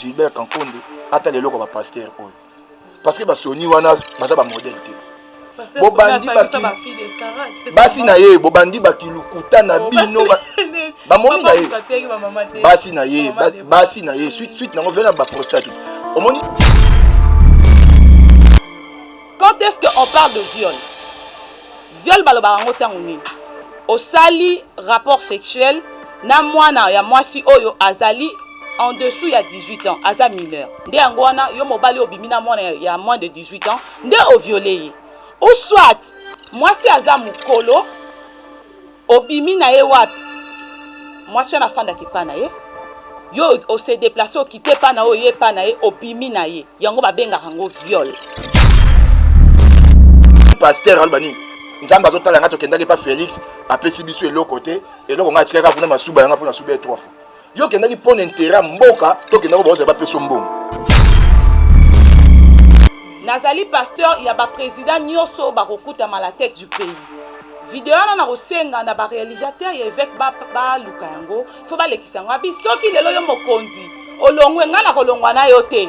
Gilbert Kankonde atala eloko ba pasteur oyo parce que ba Sony wana baza ba modèle te bobandi basi na ye bobandi bakilukuta na oh, bino bamoni na ye basi na ye basi na ye suite suite nango vena baprostate omoni Quand est-ce que on parle de viol? Viol balobaka yango tango nini? Osali rapport sexuel na mwana ya mwasi oyo azali en dessous ya 18 ans, aza mineur. Nde yango wana yo mobali obimi na mwana ya moins de 18 ans, nde o violer ye. Ou soit mwasi aza mukolo Obimi na ye wapi? Mwasi wana afandaka epai na ye, yo o se deplacer okite epai na oye epai na ye, obimi na ye, yango babengaka yango viol. pasteur aloba nini nzambe azotala ngai tokendaki epa félix apesi biso eloko te eloko ngai atikaki kuna masuba yanga mpo nasuba ye trois fois Yo kendaki pona intérêt ya mboka to kendaki baoza bapeso mbongo. Nazali pasteur ya ba président nyonso bakokutama la tête du pays. Video wana nakosenga na ba réalisateur ya évêque baluka yango fo balekisa yango abi soki lelo yo mokonzi olongwe ngai nakolongwa na yo te.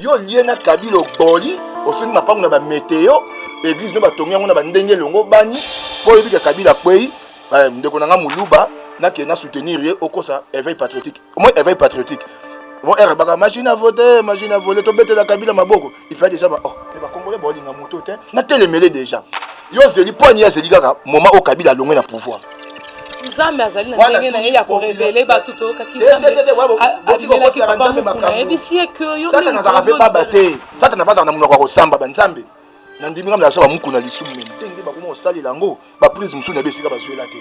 yo olie na kabila oboli osoni mapango na bameteo eglise nde batongi yango na bandenge elongo bani mpo oyebi ke kabila akwei eh, ndeko na ngai moluba nakende na soutenir ye okosa éveil patriotique omoi éveil patriotique mo erbaka machine à voter machine à voler tobetela kabila maboko il fallait déjà ba oh mais ba congolais ba linga moto te na telemele déjà yo zeli point ya zeli kaka moment au Kabila alongwe na pouvoir nzambe azali na ndenge na ye ya korevele bato toyokaki nzambeamelaki papa mokuna ayebisi ye ke yosatana azalaka mpe baba te satana bazalaka na monoko ya kosamba banzambe na ndimi ngambe azala mokuna lisumu me ndenge bakoma kosalela yango baprise mosusu na ye esika bazwela te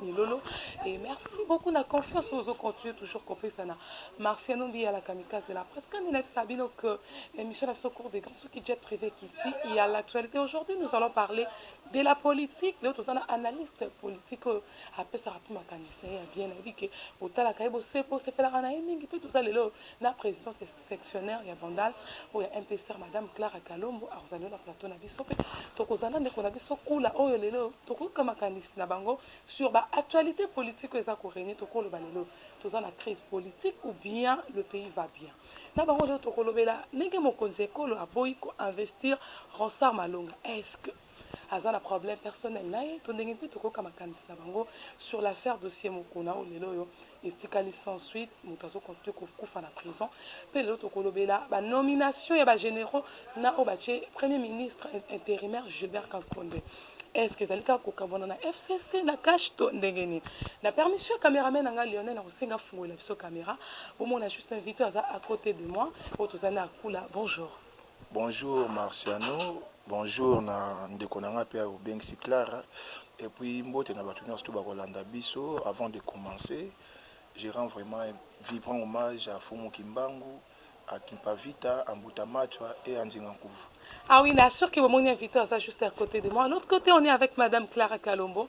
Ni lolo et merci beaucoup na confiance ozo continuer toujours kopesa na Marciano Mbiya la kamikaze de la presse quand il a dit sabino que l'émission na biso cours des grands soki jet privé kiti il y a l'actualité aujourd'hui nous allons parler de la politique leo toza na analyste politique oyo apesaka mpe makanisi na ye ya bien nayebi ke otalaka ye bosepelaka na ye mingi mpe toza lelo na présidence Sectionnaire ya Bandal oyo ya MPCR Madame Clara Kalombo akozala lelo na plateau na biso mpe tokozala na ndeko na biso Kula oyo lelo oyo tokoyoka makanisi na bango sur ba actualites politiques oyo eza ko regner tokoloba lelo toza na crise politique ou bien le pays va bien na bango lelo tokolobela ndenge mokonzi ya ekolo aboyi ko investir Ronsard Malonga est-ce que aza na problème personnel na ye to ndenge mpe tokoyoka makanisi na bango sur l'affaire dossier Mukuna oyo lelo oyo etikali sans suite, moto azo continue kokufa na prison. Mpe lelo tokolobela ba nominations ya ba generaux na oyo batye premier ministre interimaire Gilbert Kankonde. Est ce que ezali kaka kokabwana na FCC na cash to ndenge nini? Na permission ya cameraman na ngai Lionel, nakosenga afungolela biso camera bomona juste invité aza à côté de moi oyo tozali na akula. Bonjour. Bonjour Marciano, bonjour na ndeko na nga pe obengisi Clara et puis mbote na batu nionso to ba kolanda biso avant de commencer je rends vraiment un vibrant hommage à Fumu Kimbangu à Kimpavita, à Mbuta Machwa et à Nzinga Nkuvu. Ah oui, na sûr que bomoni invité aza juste à côté de moi. À l'autre côté, on est avec madame Clara Kalombo.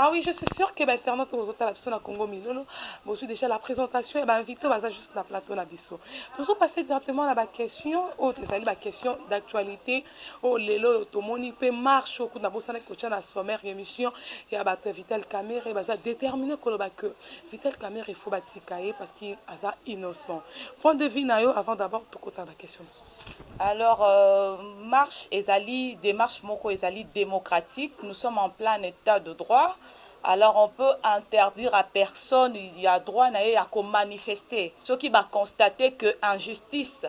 Ah oui, je suis sûr que ba internautes oyo bozotala biso na Congo Milolo, bozwi déjà la présentation ya ba invités baza juste na plateau na biso. Tozo passer directement na ba questions oyo ezali ba questions d'actualité oyo lelo oyo tomoni mpe marche oyo kuna bosanaki kotya na sommaire ya émission ya bato ya Vital Kamerhe baza déterminé koloba que Vital Kamerhe il faut batika ye parce que aza innocent. Point de vue na yo avant d'abord tokota na ba questions mosusu. Alors marche ezali demarche moko ezali democratique, nous sommes en plein etat de droit, alors on peut interdire à personne ya droit na ye ya ko manifester soki ba constater que injustice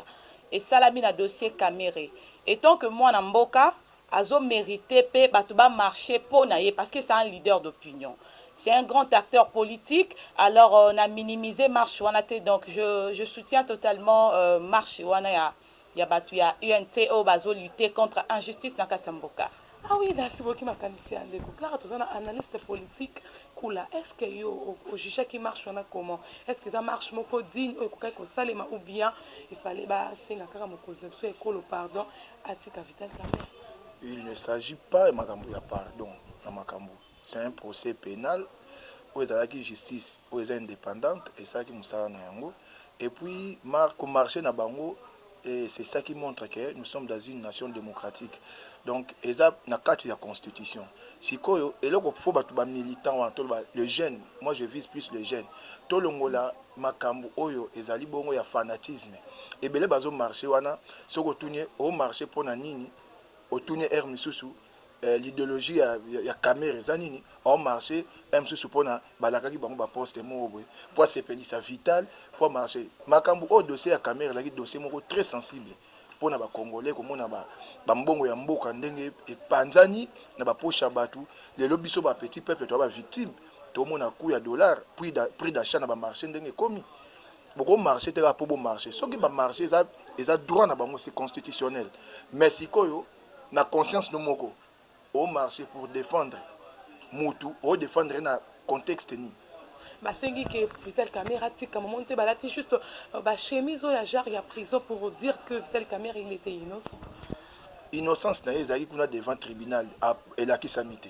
esalami na dossier Kamerhe. Etant que mwana mboka, Azo merite pe batu ba marche po na ye parce que c'est un leader d'opinion. C'est un grand acteur politique alors na minimiser marche wana te donc je je soutiens totalement marche wana ya ya batu ya UNC oyo bazo lutter contre injustice na kati ya mboka. Ah oui nasi boki makanisi ya ndeko Clara toza na analyste politique kula est ce que yo o jugeaki marche wana comment est ce que eza marche moko digne oyo ekokaki kosalema ou bien il fallait ba senga kaka mokonzi na biso ya ekolo pardon Atika vital kamerhe. Il ne s'agit pas ya makambo ya pardon na makambo. C'est un procès penal oyo ezalaki justice oyo eza independante esalaki mosala na yango et puis mar ko marcher na bango et c'est ça qui montre que nous sommes dans une nation démocratique donc eza na kati ya constitution sikoyo eloko faut bato ba militant wana toloba le jeune moi je vise plus le jeune tolongola Makambu oyo ezali bongo ya fanatisme ebele bazo marche wana soki otuni ye o marche pona nini otuni ye heure misusu eh l'ideologie ya ya kamere eza nini o marche heure misusu pona balakaki bango ba poste moko boye po asepelisa vital po a marche makambu oyo dossier ya kamere ezalaki dossier moko très sensible pona ba congolais komona ba mbongo ya mboka ndenge epanzani na ba poche ya batu lelo biso ba petit peuple toza ba victime tomona cout ya dollar prix d'achat na ba marche ndenge ekomi boko marche te kaka po bo marche soki ba marche eza eza droit na bango c'est constitutionnel mais sikoyo na conscience no moko o marche pour defendre mutu o defendre ye na contexte nini? Basengi que Vital Kamerhe atika maman te balati juste ba chemises oyo ya genre ya prison pour dire que Vital Kamerhe il etait innocent. Innocence na ye ezalaki kuna devant tribunal elakisami te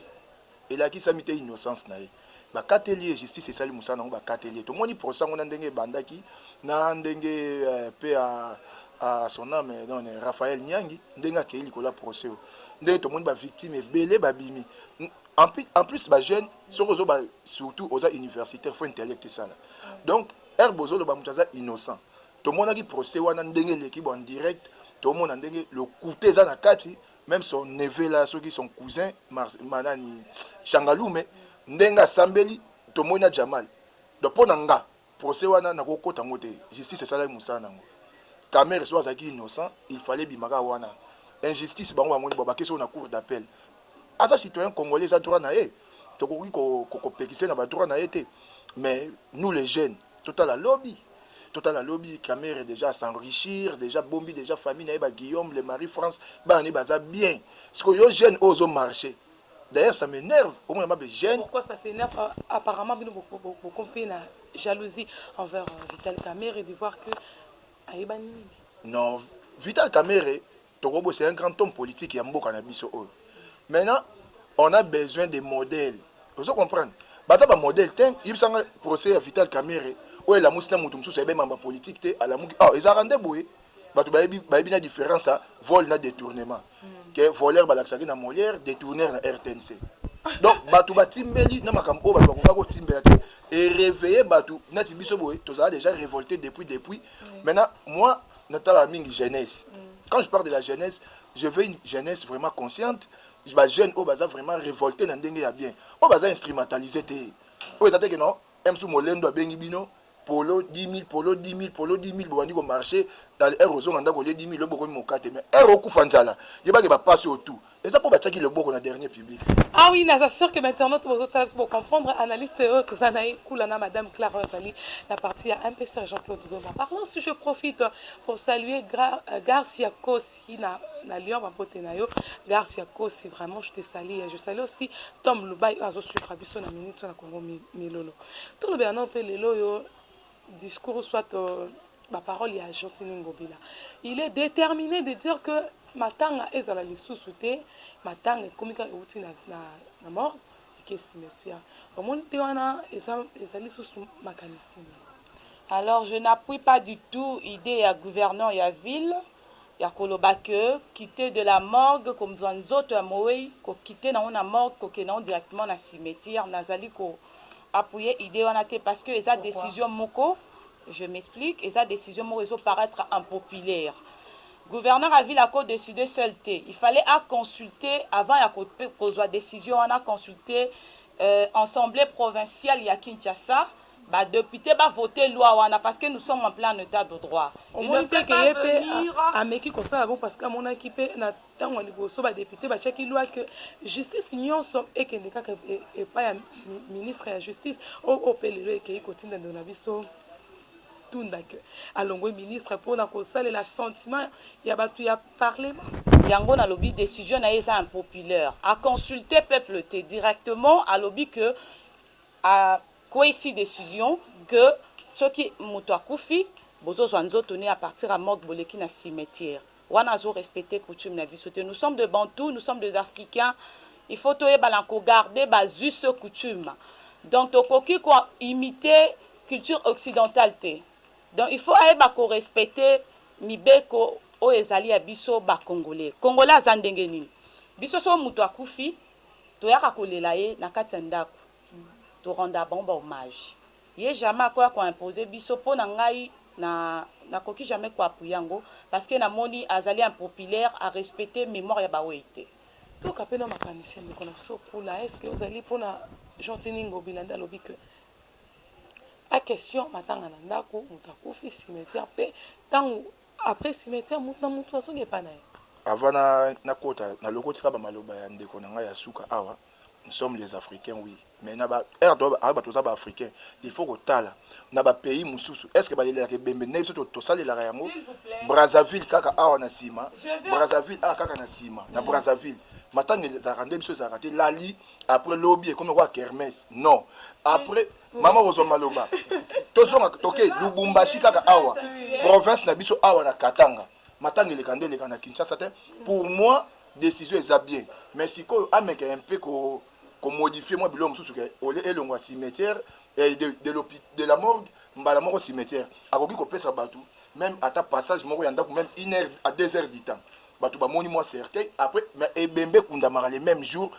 elakisami te innocence na ye. Bakateli ye, justice esali mosala na yango, bakateli ye. Tomoni procès yango na ndenge ebandaki, na ndenge paix à, à son ame donc Raphaël Nyangi ndenge akeyi likolo ya procès oyo, ndenge tomoni ba victimes ebele babimi en plus, en plus ba jeunes soki ozo ba surtout oza universitaire faut intellect esala donc heure bozoloba moto aza innocent tomonaki procès wana ndenge eleki bo en direct tomona ndenge lokuta eza na kati meme son neveu la soki son cousin manani shangalume ndenge asambeli tomoni na jamal donc mpo na nga procès wana nakokota yango te justice esalaki mosala na yango kamere soki azalaki innocent il fallait ebima kaka wana injustice bango bamoni bo bakesi oyo na cour d'appel aza citoyen congolais eza droit na ye tokoki kopekise na badroit na ye te mais nous les jeunes totala lobi totala lobi kamere deja a s'enrichir deja abombi deja famille na ye ba Guillaume le Marie France bana ne baza bien siko yo jeune oyo ozo marche d'ailleurs ça m'énerve omona mabe jeune Pourquoi ça t'énerve Ah, Apparemment, bino boko- bo- bokompe na jalousie envers euh, Vital Kamerhe de voir que ayebani mingi. non Vital Kamerhe Toko bosa un grand homme politique ya mboka na biso oyo. Maintenant on a besoin des modèles. Ozo comprendre? Baza ba modèles tein. Yebisa nga procès ya Vital Kamerhe oyo elamusi na mutu mususu ayebani mamba politique te alamuki awa. Ezalaka nde boye. Batu bayebi bayebi na difference ya vol na detournement. Que voleur balakisaki na Molière, detourneur na rtnc. Donc batu ba timbeli na makambo oyo batu bakokaki ko timbela te e reveiller batu neti biso boye tozala dejà revolte depuis depuis. Maintenant moi natalaka mingi jeunesse quand je parle de la jeunesse je veux une jeunesse vraiment consciente ba jeune oyo baza vraiment révolté na ndenge ya bien oyo baza instrumentalisé te oyo eza te ke non msu molendo abengi bino polo 10000 polo 10000 polo 10000 bobandi komarche tale heure ozonga ndako olie 10000 oyo bokomi mokate mais heure okufa nzala yebake bapasi oyo tout Eza po batiaki loboko na dernier public te. Ah oui naza sur que ba internautes bozo tala biso bo comprendre analyste oyo toza na ye kula na madame Clara azali na partie ya MPC Jean Claude Goma parlant si je profite pour saluer Gra, euh, Garcia Kosi na na Lyon ba bote na yo Garcia Kosi vraiment je te salue je salue aussi Tom Lubai oyo azo suivre biso na minute na Congo Milolo tolobela na pe lelo yo discours soit ba paroles ya Gentiny Ngobila. Il est determine de dire que matanga ezala lisusu te, matanga ekomi kaka euti na, na, na mort eke cimetière. Omoni te wana eza ezali lisusu makanisi. Alors je n'appuie pas du tout idee ya gouverneur ya ville. ya koloba que quitter de la morgue komzua nzoto ya moweyi ko quitter nango na morgue kokende nango directement na cimetière nazali ko appuyer idee wana te parce que eza decision moko je m'explique eza decision moko ezo paraitre impopulaire gouverneur ya ville ako decider seul te il fallait a consulter avant ya kozua decision wana consulter euh, assemblée provinciale ya Kinshasa Ba deputes ba voter loi wana parce que nous sommes en plein etat de droit. Ils ne peuvent pas venir. Ameki kosala bongo parce que amonaki pe na tango ya liboso ba deputes batiaki loi que justice nionso ekende kaka epai ya ministre ya justice oyo pe lelo ekeyi kotinda ndeko na biso tunda que alongwe ministre pona kosalela sentiment ya batu ya parlement. Yango nalobi decision na ye eza impopulaire. A consulter peuple te directement alobi que a Kwesi decision que soki mutu akufi bozo zwa nzoto ne a partir ya morgue boleki na cimetière wana azo respecter coutume na biso te nous sommes de bantou nous sommes des africains il faut toyeba na ko garder ba us et coutume donc tokoki ko imiter culture occidentale te donc il faut ayeba ko respecter mibeko oyo ezali ya biso ba congolais congolais aza ndenge nini biso soki mutu akufi toyaka kolela ye na kati ya ndaku to rendre bango ba hommage ye jamais akoya ko imposer biso po na ngai na na koki jamais ko appuyer yango parce que na moni azali impopulaire a respecter memoire ya ba weyi te. Toyoka pe nao makanisi ya ndeko na biso Pula est ce que ozali po na Gentiny Ngobila nde alobi que pas question matanga na ndaku mutu akufi cimetière pe tangu après cimetière mutu na mutu azonga epa na ye. Avant na kota na lokoti kaka ba maloba ya ndeko na ngai ya suka awa. nous sommes les africains oui mais na ba rdb ah, ba toza ba africains il faut kotala na ba pays mususu est ce que balelaka ebembe ndenge biso tosalelaka yango brazzaville kaka awa na nsima brazzaville awa kaka na nsima na mm. brazzaville matanga ezalaka nde biso ezalaka te lali après lobi ekomi kwa kermes non après mama kozwa maloba tozonga toke lubumbashi kaka awa province na biso awa na katanga matanga eleka nde eleka na kinshasa te pour moi décision eza bien mais sikoyo ameka un peu ko komodifie mwa biloko mosusu ke olie elongo ya cimetière eh, de, de, de la morgue mbala moko cimetière akoki kopesa bato même ata passage moko ya ndako même une heure à deux heures du temps bato bamoni mwa cercueil après mais ebembe ekundamaka le même jour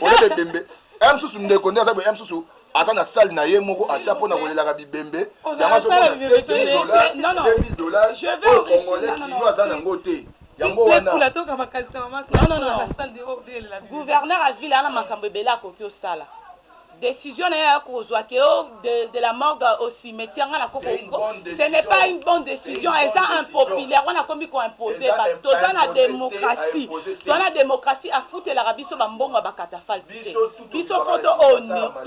oleka ebembe ya mosusu ndeko nde aza boye ya mosusu aza na salle na ye moko atia mpo na kolelaka bibembe yango azomona 7000 dollars 2000 dollars oyo congolais kino aza na yango te yango wana gouverneur ya ville ana makambo ebele akoki osala Decision naye ya kozwa que oh, de, de la morgue au cimetière nga na koko ce n'est pas une bonne decision eza impopulaire wana komi ko imposer ba toza na démocratie toza na démocratie afutelaka biso ba mbongo ba catafalque biso faut to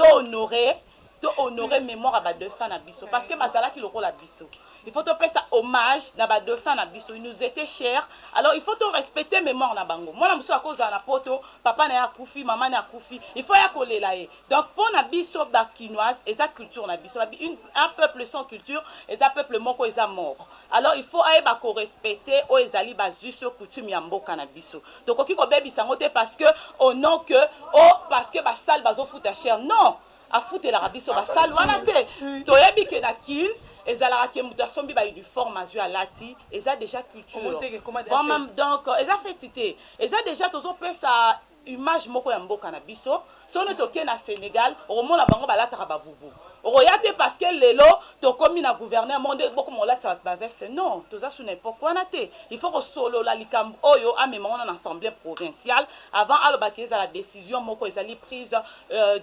honore to honore mémoire ya ba défunt na biso parce que bazalaki lokola biso il faut to pesa hommage na ba dauphins na biso ils nous etaient chers alors il faut to respecter memoire na bango mwana mosusu akozala na poto papa na ye akufi mama na akufi il faut ya kolela ye donc mpo na biso ba kinoise eza culture na biso une un peuple sans culture eza peuple moko eza mort alors il faut ayeba ko respecter oyo ezali ba us coutume ya mboka na biso tokoki kobebisa yango te parce que au nom que oh parce que basale bazofuta cher non afutelaka biso ba salle wana te toyebi ke na kin ezalaka ke moto asombi ba uniforme azwi alati eza déjà culture vraiment donc eza feti te eza déjà tozopesa image moko ya mboka na biso soki neti okei na sénégal okomona bango balataka babubu okoya te parce que lelo tokomi na gouverneur moko nde bokoma kolatisa bato baveste non toza su na epoke wana te il faut kosolola likambo oyo amema wana na assemblée provinciale avant alobaki ezala décision moko ezali prise euh,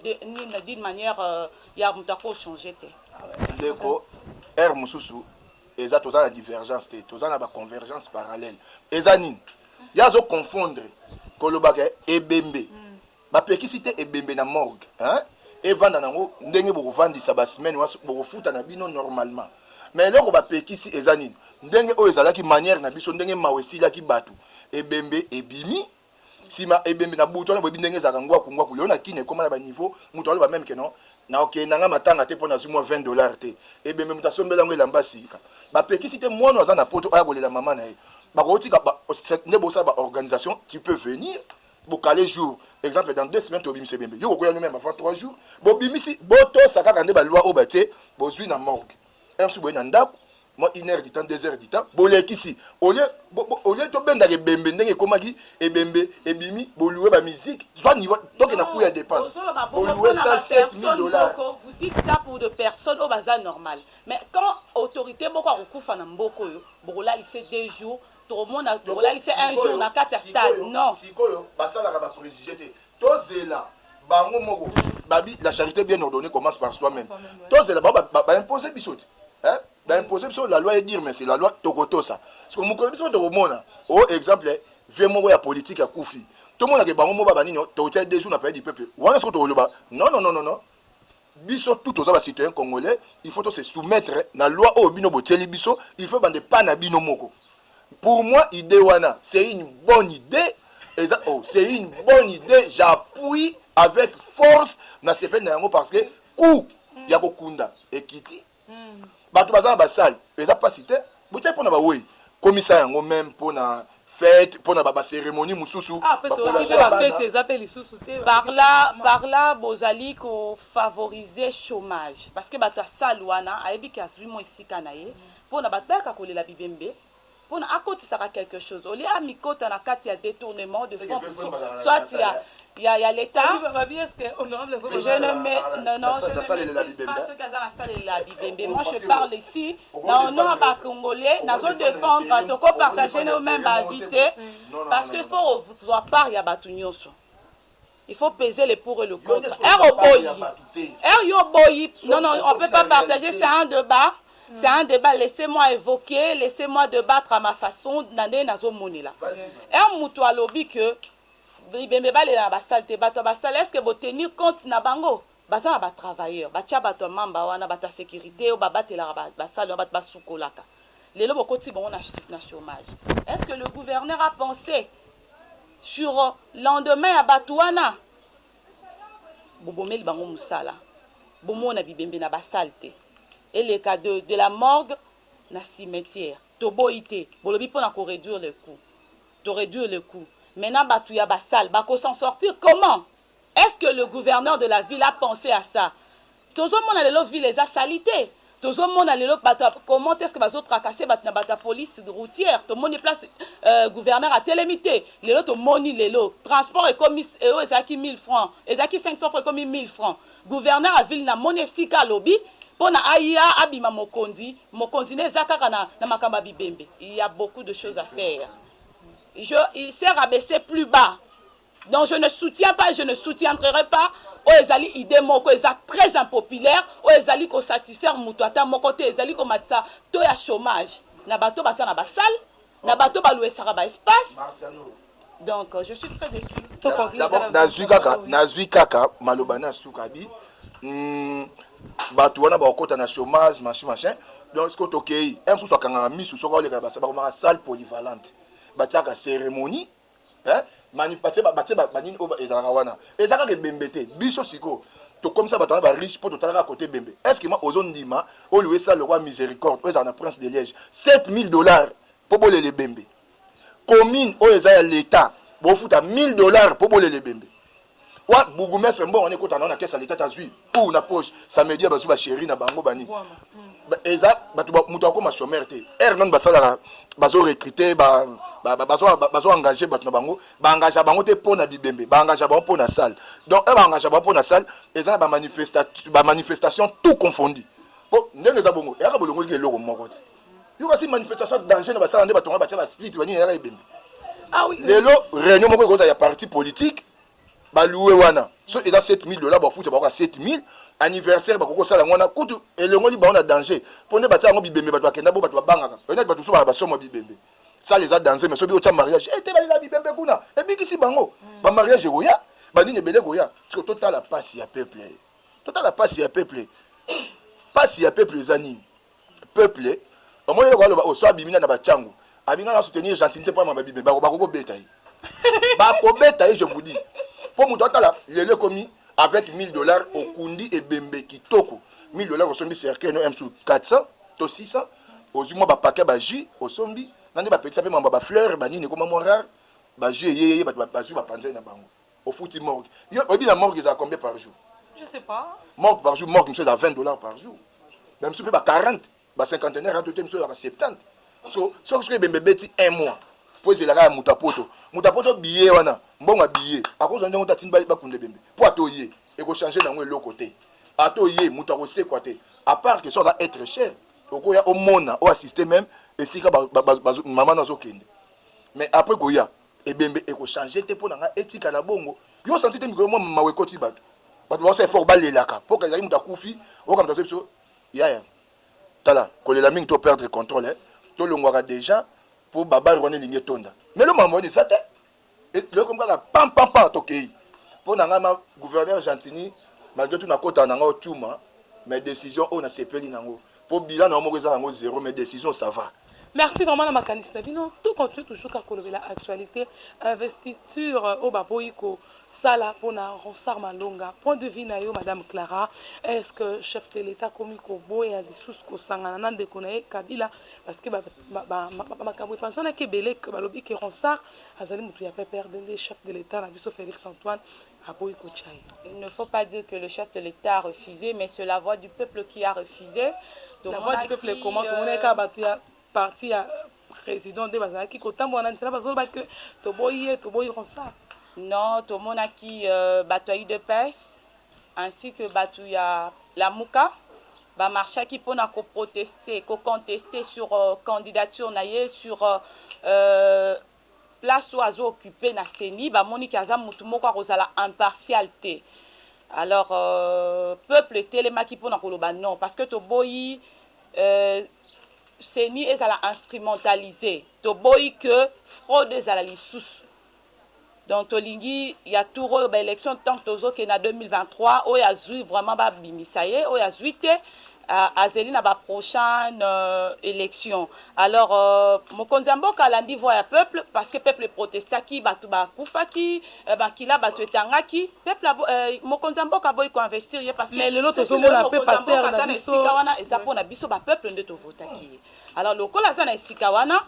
d'une manière euh, ya moto ako changer te ndeko heure mosusu eza toza na divergence te toza na baconvergence parallèle eza nini ye azo confondre kolobaka ebembe hmm. bapekisi te ebembe na morgue hein? evanda nango ndenge bokovandisa basemaine wana bokofuta na bino normalement me eloko bapekisi eza nini ndenge oyo ezalaki manière na biso ndenge mawa esilaki bato ebembe ebimi sima ebembe na butu wana boyebi ndenge ezalaka ngwaku ngwaku lelo na kini ekoma na ba niveau mutu aloba meme keno na okende nanga matanga te mpo nazwi mwa 20 dollars te ebembe mutu asombela yango elamba sika bapekisi te mwana aza na poto aya kolela mama na ye bakotika nde bosala ba organisation tu peux venir bokale jour exemple dans deux semaines tobimisa ebembe yo kokoya no meme avant trois jours bobimisi botosa kaka nde baloi oyo batie bozwi na morgue heure mosusu boye na ndako mwa une heure du temps deux heures du temps bolekisi olie olie tobendaka ebembe ndenge ekomaki ebembe ebimi bolue ba musique zwa niveau toke na coût ya dépense bolue ça 7000 dollars vous dites ça pour de personnes oyo baza normal mais quand autorité moko akokufa na mboko oyo bokolalise deux jours tokomona bokolalise un jour na kati ya stade non sikoyo basalaka ba préjugé te tozela bango moko babi la charité bien ordonnée commence par soi même tozela bango baimpose biso te baimpose biso la loi edire mais c'est la loi tokotosa siko mokolo biso tokomona o oh, exemple vie moko ya politike akufi tomonake bango moko babanini tokotia deux jours na palais du peuple wana soko tokoloba non non non non Biso tout toza ba citoyen congolais il faut to se soumettre na loi oyo bino botieli biso il faut bande pas na bino moko pour moi idee wana c'est une bonne idee eza oh c'est une bonne idee j'appuie avec force na sepeli na yango parce que coup ya kokunda ekiti bato baza na basale eza mpasi te botyaki mpo na bawei komisa yango meme mpo na fete mpo na baceremonie mosusu ah, eza mpe lisusu te parla parla bozali kofavorize chômage parce que bato ya sale wana ayebi ke azwi mwa esika na ye mpo na bato bayaka kolela bibembe pona akotisaka quelque chose au lieu amikota na kati ya detournement de fonds soit ya ya ya l'etat je ne me non non je ne maîtrise pas ce qu'aza na salela ya bibembe moi je parle ici na honneur ya ba congolais nazo défendre toko partager no même ba avis te parce que faut ozwa part ya bato nyonso Il faut peser le pour et le contre. Heure oboyi, heure yo oboyi, non non, on peut pas partager, c'est un débat. C'est un débat, laissez-moi évoquer, laissez-moi débattre à ma façon, na nde nazo monela. Heure mutu alobi que bibembe balela na basali te, bato ya basali, est-ce que bo tenir compte na bango? Baza na ba travailleurs batia batu ya mamba wana batu ya securite oyo ba batelaka ba ba salle wana batu ba sukolaka lelo bo kotisi bango na na chomage est ce que le gouverneur a pense sur lendemain ya batu wana bo bomeli bango musala bo mona bibembe na ba salle te eleka de de la morgue na cimetière to boyi te bolobi pona ko réduire le coût to réduire le coût maintenant batu ya ba salle ba ko s'en sortir comment Est ce que le gouverneur de la ville a pense à ça? Tozo mona lelo ville eza salite. Tozo mona lelo bato comment est ce que bazo tracasser bato na bato ya police routière. Tomoni place euh, gouverneur atelemi te. Lelo tomoni lelo transport ekomi eo ezalaki 1000 francs, ezalaki 500 francs ekomi 1000 francs. Gouverneur ya ville na moni esika alobi mpo na aya abima mokonzi mokonzi ne eza kaka na, na makambo ya bibembe il y a beaucoup de choses à faire je il s'est rabaissé plus bas Donc je ne soutiens pas et je ne soutiendrai pas oyo ezali idée moko eza très impopulaire oyo ezali ko satisfaire mutu ata moko te ezali ko matisa to ya chômage na bato baza na ba salle na bato ba louesaka ba espace donc je suis très déçu d'abord nazui kaka nazui kaka maloba na suka bi hmm, bato wana bakokota na chômage machin machin donc sikoyo tokei un mosusu akangaka misu soki aoleka na basaba komaka salle polyvalente batiaka cérémonie hein mani batie ba batie ba nini oyo ezalaka wana eza kaka ebembe te biso sikoyo tokomisa bato wana ba riche mpo totala kaka kote ebembe est ce que ma ozondima oyo esala lokwa miséricorde oyo ezalaka na prince de liège 7000 dollars mpo bolela ebembe commune oyo eza ya l'état bofuta 1000 dollars mpo bolela ebembe Wa bourgoumestre mbongo wana ekota nao na kesa leta tazwi ou na poche samedi ya bazwi basheri na bango bani eza bato moto akoma sommaire te heure nani basalaka bazo recrute bazo engage bato na bango baengagea bango te mpo na bibembe baengagea bango mpo na salle donc e baengagea bango mpo na salle eza na bamanifestation tout confondi mpo ndenge eza bongo eyaka bolongoliki eloko moko te yoka si manifestation ya danger na basala nde batonga batya ba split banini yaka ebembe ah lelo réunion moko ekozala ya parti politique balouwe wana so eza 7000 dollars bafuta bakoka 7000 anniversaire bakoki kosala yango wana kutu elongoli bango na danger mpo nde batya yango bibembe bato bakenda bo bato babangaka oyinaki bato mosusu baa basomo bibembe sala eza danger mais soki otya mariage e eh, te balela bibembe kuna ebikisi bango hmm. bamariage ekoya banini ebele ekoya siko totala mpasi ya peuple Totala pasi ya peuple. Pasi ya peuple eza nini? Peuple omoni eloko aloba oyo so abimi na ba changu abinga na soutenir gentilité mpo mababi me bako kobeta ye bako beta ye je vous dis mpo moto atala lelo ekomi avec 1000 dollars okundi ebembe kitoko 1000 dollars osombi cercueil no msu 400 to 600 ozwi mwa bapake ba jus osombi na nde bapekisa mpe mambo ba fleur banini ekoma mwa rare ba jus eyeyeye bato bazwi bapanzai na bango Ofuti morgue. Yo oyebi na morgue ezala combien par jour? Je sais pas. Morgue par jour, morgue monsieur ezala 20 dollars par jour. Ba monsieur ba 40, ba cinquantenaire hein, tote monsieur ba 70. So so soki bembe beti un mois. Po ezela ka muta poto. Muta poto billet wana, mbongo billet. Akozwa ndenge otatini ba ba kunde bembe. Po atoye, eko changer nango eloko te. Atoye muta ko sekwa te. À part que ça va être cher. Okoya omona, o assister même esika ba, ba, ba, ba maman azo kende. Mais après koya, Ebembe eko changer te pona nga etikala bongo yo o sentir te mikolo mwa mawa ekoti batu batu baosala effort balelaka po ezali mutu akufi oyoka mutu azo biso yaya tala kolela mingi to perdre controle tolongwaka deja po babare wana elingi etonda mais lelo makambo wana eza te lelo ekomi kaka pam pam pam tokei po na ngai ma gouverneur Gentini malgré tout nakotana na ngai otiuma mais decision oyo nasepeli na yango Po bilan na yo moko eza na ngo zero mais decision ça va. Merci vraiment na makanisi na bino to continue toujours kaka kolobela actualite investiture euh, oyo baboyi kosala mpona ronsard malonga point de vue na yo madame clara est ce que chef de l'état akomi koboya lisusu kosangana na ndeko na ye kabila parce que makambo epanzanaki ebele ke balobi ke ronsard azali motu ya pprd nde chef de l'état na biso félix antoine aboyi kotya ye. Il ne faut pas dire que le chef de l'etat a refuse mais ce la voix du peuple qui a refuse tomonaki. La voix du peuple comment tomonaki kaka batu ya parti ya president nde bazalaki kotambola na nzela bazoloba que toboyi ye toboyi ronsard. Non tomonaki euh, batu ya udps ainsi que batu ya lamuka ba marchaki pona ko protester ko contester sur euh, candidature na ye sur euh, place oyo azo occupe na ceni ba moni ke aza mutu moko ako zala impartial te alors peuple etelemaki pona ko loba non parce que to boyi ceni ezala instrumentalise to boyi que fraude ezala lisusu donc to lingi ya tour oyo ba election tank tozo ke na 2023 oyo azui vraiment ba bimisa ye oyo azui te azeli na ba prochaine euh, election Alors euh, mokonzi ya mboka alandi voix ya peuple parce que peuple protestaki, batu bakufaki, euh, makila batu etangaki, peuple euh, mokonzi ya mboka boyi ko investir ye parce que mais lelo tozomona pe pasteur na biso esika wana eza pona biso ba peuple nde tovotaki ye. Alors lokola aza na esika wana,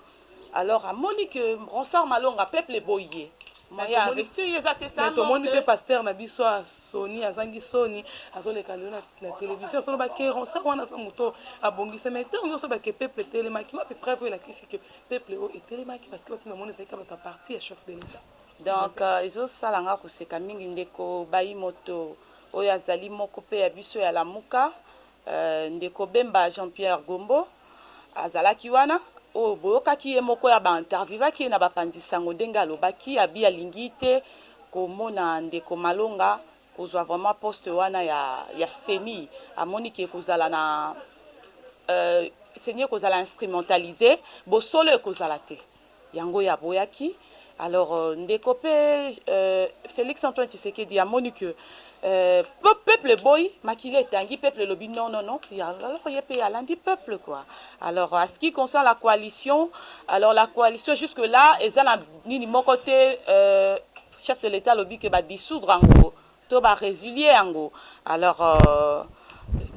alors amoni que Ronsard Malonga peuple boyi ye mais ya investir ye eza te sa mais tomoni pe pasteur na biso a soni azangi soni azoleka lelo na télévision solo ba keron sa wana sa moto abongisa mais ntango nyonso ba ke peuple etelemaki wapi preuve oyo elakisi ke peuple oyo etelemaki parce que bato na moni ezalaki ka bato ya parti ya chef de l'état donc euh, ezosala nga koseka mingi ndeko bayi moto oyo azali moko pe ya biso ya lamuka Euh, ndeko Bemba Jean Pierre Gombo azalaki wana oyo boyokaki ye moko ya ba interviewaki ye na bapanzi sango ndenge alobaki abi alingi te komona ndeko Malonga kozwa vraiment poste wana ya ya CENI amoni ke kozala na euh, CENI ekozala instrumentaliser bosolo ekozala te yango ye aboyaki alors ndeko pe Felix Antoine Tshisekedi amoni que peuple eboyi makila etangi peuple elobi non non non alors ye pe alandi peuple quoi alors à ce qui concerne la coalition alors la coalition jusque là eza na nini moko te chef de l'etat alobi que ba dissoudre yango to ba resilier yango alors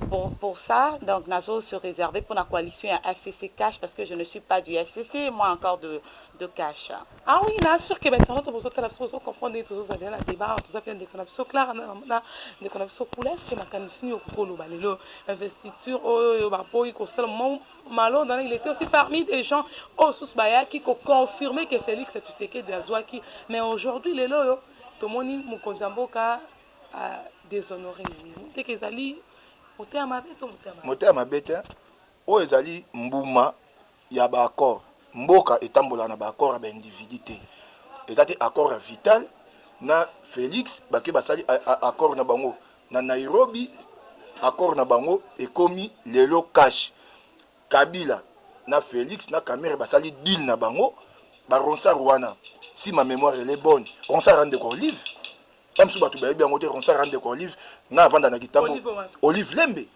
pour pour ça donc nazo se reserver pour la coalition ya FCC cash parce que je ne suis pas du FCC moi encore de de cash ah oui na sûr que maintenant to bozo tala bozo comprendre et tozo zala na débat tozo pe ndeko na biso Clara na na ndeko na biso Kula est-ce que makanisi yo kokolo ba lelo investiture oyo yo ba boyi ko sala Malo dans il était aussi parmi des gens au sous bayaki ko confirmer que Félix Tshisekedi azwaki mais aujourd'hui lelo yo tomoni mokonzi ya mboka a deshonore ye moteke ezali moteya mabe to moteya mabe moteya mabe te oyo ezali mbuma ya baaccord mboka etambolaka na baaccord ya baindividu te eza te accord ya vital na félix bake basali accord na bango na nairobi accord na bango ekomi lelo cash Kabila na Felix na Kamerhe basali deal na bango ba Ronsard wana si ma memoire elle est bonne Ronsard ande kwa Olive ba misusu batu bayebi yango te Ronsard ande kwa Olive nga avanda na Kitambo Olive Lembe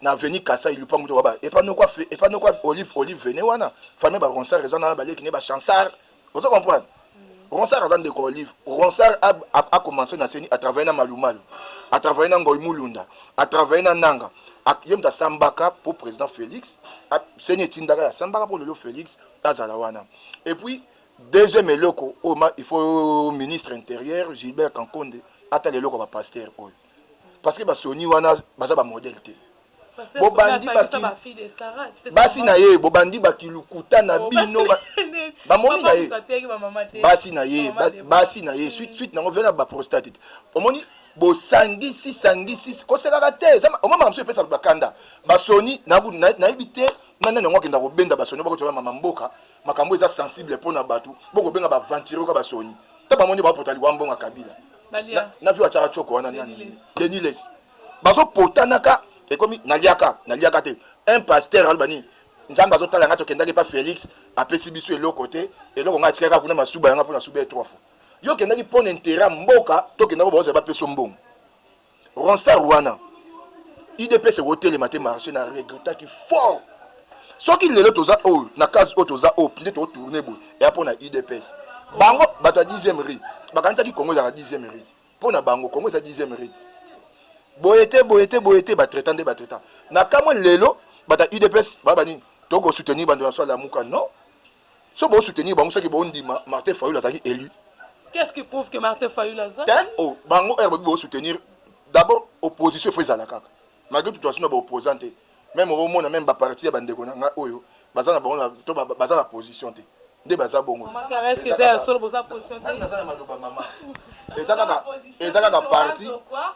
na avenue Kasaï lupangu to waba epa noko epa noko Olive Olive vene wana famille ba Ronsard eza na ba leki ne ba Chansard ozo comprendre Ronsard aza ndeko Olive. Ronsard a, a, a commencé na CENI, a travaillé na Malumalu, a travaillé na Ngoy Mulunda, a travaillé na Nanga. Ye moto asambaka mpo président Félix, CENI etindaka ya sambaka mpo lelo Félix azala wana. Et puis deuxième eloko oyo il faut ministre intérieur Gilbert Kankonde atala eloko ba pasteur oyo. parce que ba soni wana baza ba modèle te bobandi basi na ye bobandi bakilukuta na oh, bino bamoni na ye basi na ye basi na ye suite suite nango vena baprostate omoni bosangisi sangisi kosekaka te omamaka mosusu epesa bakanda basoni nayebi te na nani yango akenda kobenda basoni bakotola mama mboka makambo eza sensible mpo na bato bokobenga baventure oka basoni ta bango nde bapota liwa mbongo ya kabila na vio atyaka coko wana nani denis les bazopotanaka ekomi naliaka naliaka te un pasteur aloba nini nzambe azotala ngai tokendaki mpa félix apesi biso eloko te eloko ngai atikaki kaka kuna masuba yanga mpo nasuba ye trois fois yo okendaki mpo na intera mboka tokendaki baozala bapeso mbongo Ronsard wana udps ekotelema te marche na regrettaki fort soki lelo toza oyo na case oyo toza oyo mpe totourne boye eya mpo na udps bango bato ya 10e rite bakanisaki congo ezalaka 10e rite mpo na bango congo eza 10e rite boye te boye te boye te batraitant nde batraitant na kamwe lelo bato ya udps baba nini tokosoutenir bando na so alamuka non soki bo soutenir bango soki bo ndima Martin Fayulu azalaki élu Qu'est-ce qui prouve que Martin Fayulu aza Hein? Oh, bango heure babi bo soutenir d'abord opposition faut ezala kaka malgré tout asuna ba opposant te même omona même ba parti ya bandeko na nga oyo baza na bango na to ba- baza na position te nde baza bongo Maman Clara, est-ce que eza ya solo boza position te? Nani naza na maloba mama eza kaka eza kaka parti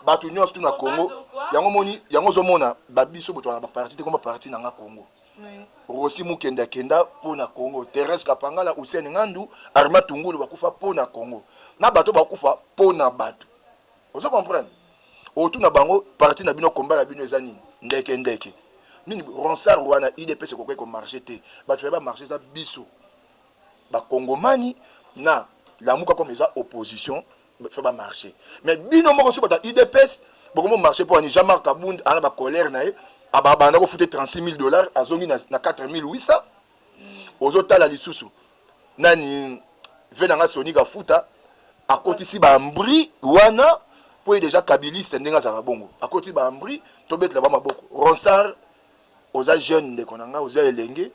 bato nyonso tu na congo yango moni yango ozomona babiso boto na baparti te koma parti na nga congo Rosi Mukende akenda mpo na Congo, Therèse Kapangala, Hussein Ngandu, Arma Tungulu bakufa mpo na Congo, na bato bakufa mpo na bato. Ozo comprendre? Otuna bango parti na bino combat na bino eza nini? Ndeke ndeke. Nini ronsar wana IDPS ekokoki ko marcher te. Bato ya ba marcher eza biso. Ba Kongomani na lamuka comme eza opposition fa ba marche mais bino moko soki bato ya udps bokomi komarche mpo ani jean marc kabund ana bacolere na ye abanda kofute 36 000 dollars azongi na 4800 ozotala lisusu nani ve na nga soni kafuta akotisi bambri wana mpo ye deja kabiliste ndenge azalaka bongo akotisi bambri tobetela ba maboko ronsard oza jeune ndeko na nga oza elenge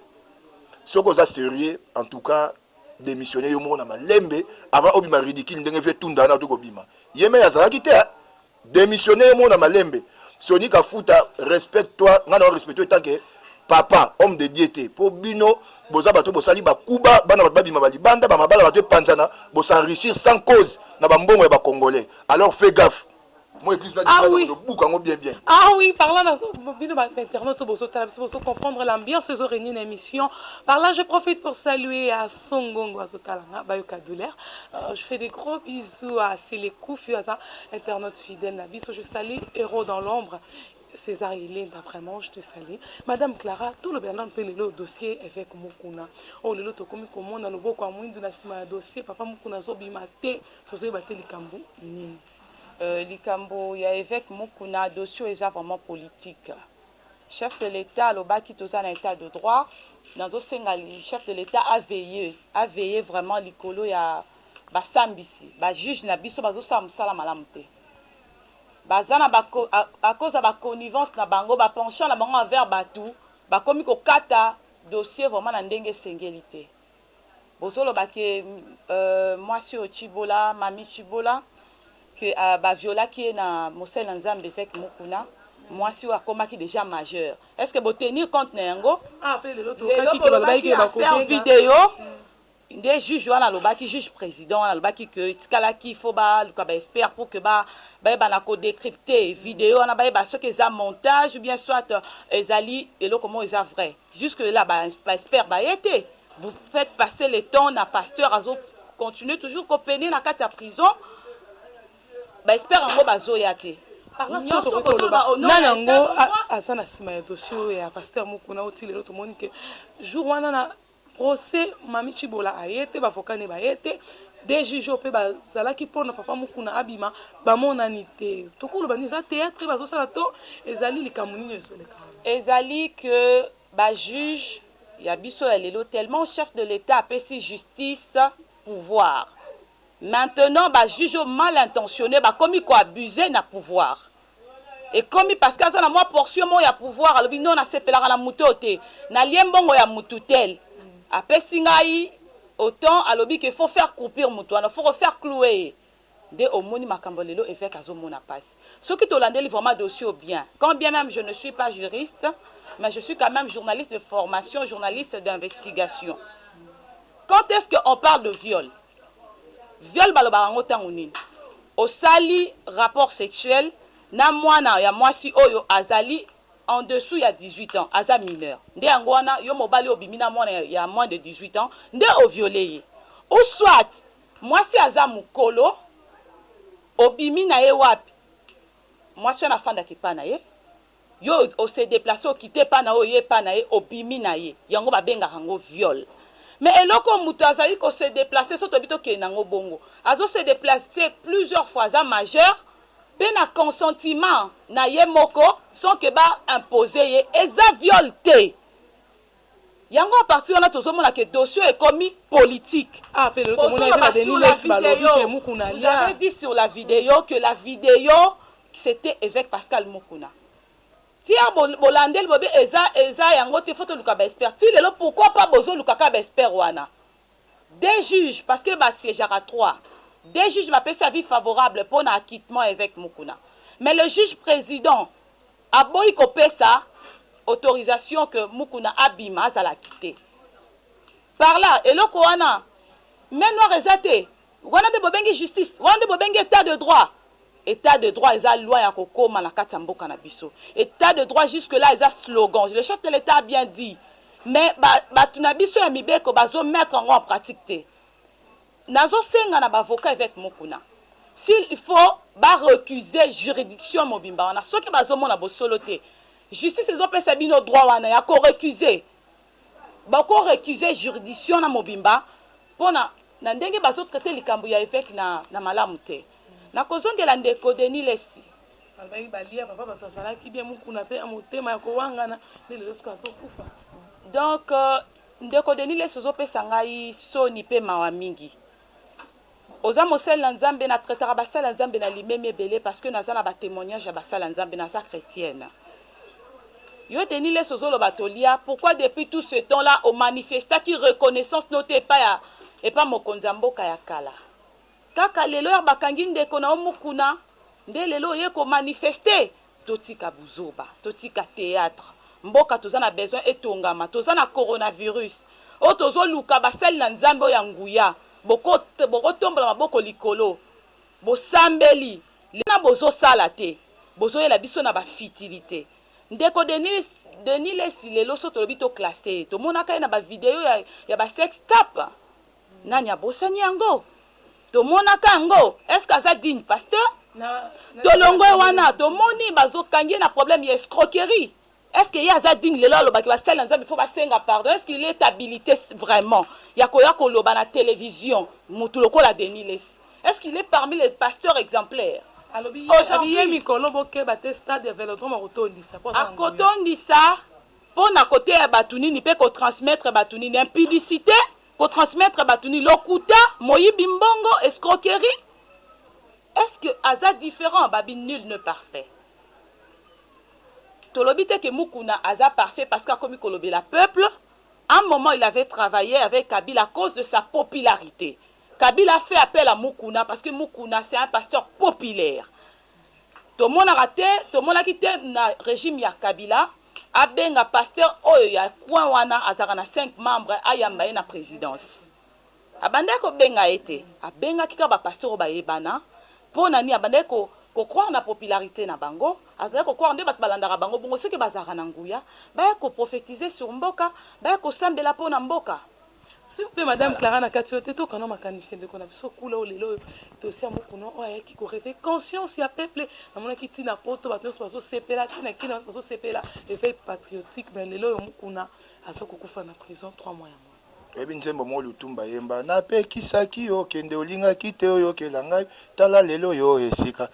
soki oza serieux en tout cas demissionner yo moko na malembe avant obima ridicule ndenge vie tunda wana to kobima ye me azalaki te demissionner yo moko na malembe Sony Kafuta respecte toi nga na respecte toi que papa homme de Dieu te po bino boza bato bosali ba kuba bana bato babima ba libanda ba mabala bato epanzana bo s'enrichir sans cause na ba mbongo ya ba congolais alors fais gaffe Moi église là ah oui. buka yango bien bien. Ah oui, par là bino ba internautes boso tala biso boso comprendre l'ambiance ezo régner na émission. Par là je profite pour saluer à Songongo azo tala nga ba yoka douleur. Euh, je fais des gros bisous à Sele Koufi aza internaute fidèle na biso. Je salue Héros dans l'ombre. César Yelenda, vraiment, je te salue. Madame Clara, tout le Bernard peut le dossier avec Mukuna. Oh, le loto comme comment dans le beau comme na sima dossier, papa Mukuna zo bimate, tozo bate likambu nini. Euh likambo ya eveque mukuna dossier oyo eza vraiment politique chef de l'etat alobaki toza na etat de droit nazo senga chef de l'etat a veille a veille vraiment likolo ya ba sambisi ba juge na biso bazo sala musala malamu te baza na ba à cause ya ba connivence na bango ba penchant na bango envers batu bakomi kokata dossier vraiment na ndenge esengeli te. Bozoloba que mwasi oyo tshibola, Mamie tshibola, que ba violaki ye na mosali na Nzambe eveque Mukuna, mwasi oyo akomaki dejà majeur, est ce que bo tenir compte na yango? Lelo bolobaki que ba faire video nde juge wana alobaki, juge president wana alobaki que etikalaki il faut baluka ba experts pour que bayeba na ko decripter video wana, bayeba soki eza montage ou bien soit ezali eloko moko eza vrai. Jusque là ba experts baye te, vous faites passer le temps na pasteur azo continuer toujours ko peiner na kati ya prison, ba experts yango bazoya te. nani yango aza na nsima ya dossier oyo ya pasteur mokuna oti lelo tomoni ke jour wana na procès mami cibola aye te bavoka ne baye te de juge oyo mpe bazalaki mpo na papa mokuna abima bamonani te tokoloba nini eza théâtre bazosala to ezali likambo nini ezoleka Ezali que ba juges ya biso ya lelo tellement chef de l'etat apesi justice pouvoir maintenant ba juges oyo mal intentionnes bakomi ko abuser na pouvoir ekomi parce que aza na mwa portion moko ya pouvoir alobi non nasepelaka na moto oyo te nalie mbongo ya mutu tel apesi ngai autant alobi que faut faire croupir mutu wana faut ko faire clouer ye nde omoni makambo lelo eveque azo mona pasi soki tolandeli vraiment dossier oyo bien quand bien meme je ne suis pas juriste mais je suis quand meme journaliste de formation journaliste d'investigation quand est-ce que on parle de viol viol balobaka yango ntango nini osali rapport sexuel na mwana ya mwasi oyo azali en dessous ya 18 ans aza mineur nde yango wana yo mobali obimi na mwana ya moins de 18 ans nde oviole ye ou soit Mwasi aza mukolo obimi naye wapi mwasi wana afandaka epa naye yo o se deplace okite epa nayo oye epa naye obimi naye yango ba bengaka ngo viol mais eloko mutu azali ko se deplace soki tolobi tokende nango bongo azo se deplace plusieurs fois aza majeur pe na consentiment naye moko sans que ba imposer ye eza viol te. Yango a partir wana tozo mona que dossier oyo ekomi politique. Bozoloba sur la video, vous avez dit sur la video que la video c'etait eveque Pascal Mukuna. Tia bolandeli boyebi eza eza yango te faut toluka ba experts. Ti lelo pourquoi pas bozoluka kaka ba experts wana? Deux juges parce que ba siegeaka trois. Deux juges bapesi avis favorable pona acquittement eveque Mukuna. Mais le juge president Aboyi ko pesa autorisation que Mukuna abima azala quite par là eloko wana main noire eza te wana nde bo bengi justice wana nde bo bengi etat de droit etat de droit eza loi ya ko koma na kati ya mboka na biso etat de droit jusque là eza slogan le chef de l'etat a bien dit mais ba batu na biso ya mibeko bazo mettre yango en pratique te. Nazo senga na b'avocat eveque Mukuna s'il faut ba recuse juridiction mobimba wana soki bazo mona bosolo te justice ezo pesa bino droit wana ya ko recuse boko recuse juridiction na mobimba pona na ndenge bazo traite likambo ya eveque na na malamu te nako zongela ndeko Denis lessi. Alobaki balia papa batu azalaki bien mukuna pe ya motema ya kowangana nde lelo sikoyo azo kufa donc. Ndeko Denis Lessi ozo pesa ngai soni pe mawa mingi. Oza mosali na Nzambe, na traitaka basali ya Nzambe na limemia ebele parce que naza na ba temoignages ya basali ya Nzambe, naza chretienne. Yo Denis Lessi ozo loba tolia, pourquoi depuis tout ce temps là o manifestaki reconnaissance no te epa ya epa mokonzi ya mboka ya kala? Kaka lelo heure bakangi ndeko na yo mukuna nde lelo oye ko manifester? Totika buzoba, totika theatre. Mboka toza na besoin etongama. Toza na coronavirus oyo tozo luka basali na Nzambe oyo ya nguya. Boko boko tombola maboko likolo bosambeli lelo bozo sala te bozo yela biso na ba futilite. Ndeko Denis Denis Lessi lelo soki tolobi to classer ye tomonaka ye na ba video ya ya ba sex tape. Nani abosani yango? Tomonaka yango est-ce que aza digne pasteur? Tolongwe wana tomoni bazokangi ye na problème ya escroquerie. Est-ce que ye aza digne lelo alobaki basali na Nzambe faut basenga pardon? Est-ce qu'il est habilite vraiment ya koya koloba na television mutu lokola Denis Lessi? Est-ce qu'il est parmi les pasteurs exemplaires? Alobi ye mikolo bokeba te stade ya velodrome akotondisa po aza na nguya. Akotondisa po na koteya batu nini pe ko transmettre batu nini? Impudicite ko transmettre batu ni lokuta moyibi mbongo escroquerie est ce que aza different babi nul ne parfait tolobi te ke mukuna aza parfait parce que akomi kolobela peuple un moment il avait travaillé avec kabila à cause de sa popularité kabila fait appel à mukuna parce que mukuna c'est un pasteur populaire tomonaka te tomonaki te na regime ya kabila abenga pasteur oyo ya coin wana azalaka na 5 membre ayamba ye na presidence abandaki kobenga ye te abengaki kaka bapasteur oyo bayebana mpo na nini abandaki ko kocroire na popularité na bango azalaki kocroire nde bato balandaka bango bongo soki bazalaka na nguya baya koprofetize sur mboka baya kosambela mpo na mboka S'il vous plaît, Madame Clara, na kati oyo te to kana makanisi ya ndeko na biso kula oyo lelo oyo dossier ya mokuna oyo ayaki ko réveiller conscience ya peuple. Namonaki ti na poto bato nyonso bazosepela, ti na Kina bato bazosepela éveil patriotique, mais lelo oyo mokuna aza kokufa na prison 3 mois yango. Oyebi nzembo moko Lutumba ayemba, napekisaki yo okende olingaki te oyokela ngai, tala lelo oyo esika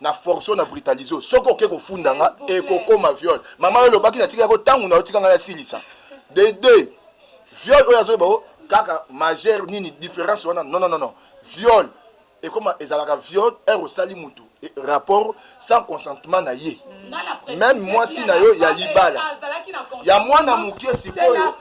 na force yo na brutaliser yo soki oke kofunda nga ekokoma viol mama yo olobaki natika yako ntango na otika ngai asilisa de deux viol oyo azoyeba o kaka majeur nini différence wana non non non viol ekoma ezalaka viol heure osali mutu rapport sans consentement na ye meme mwasi na yo ya libala ya mwana moke sikoyo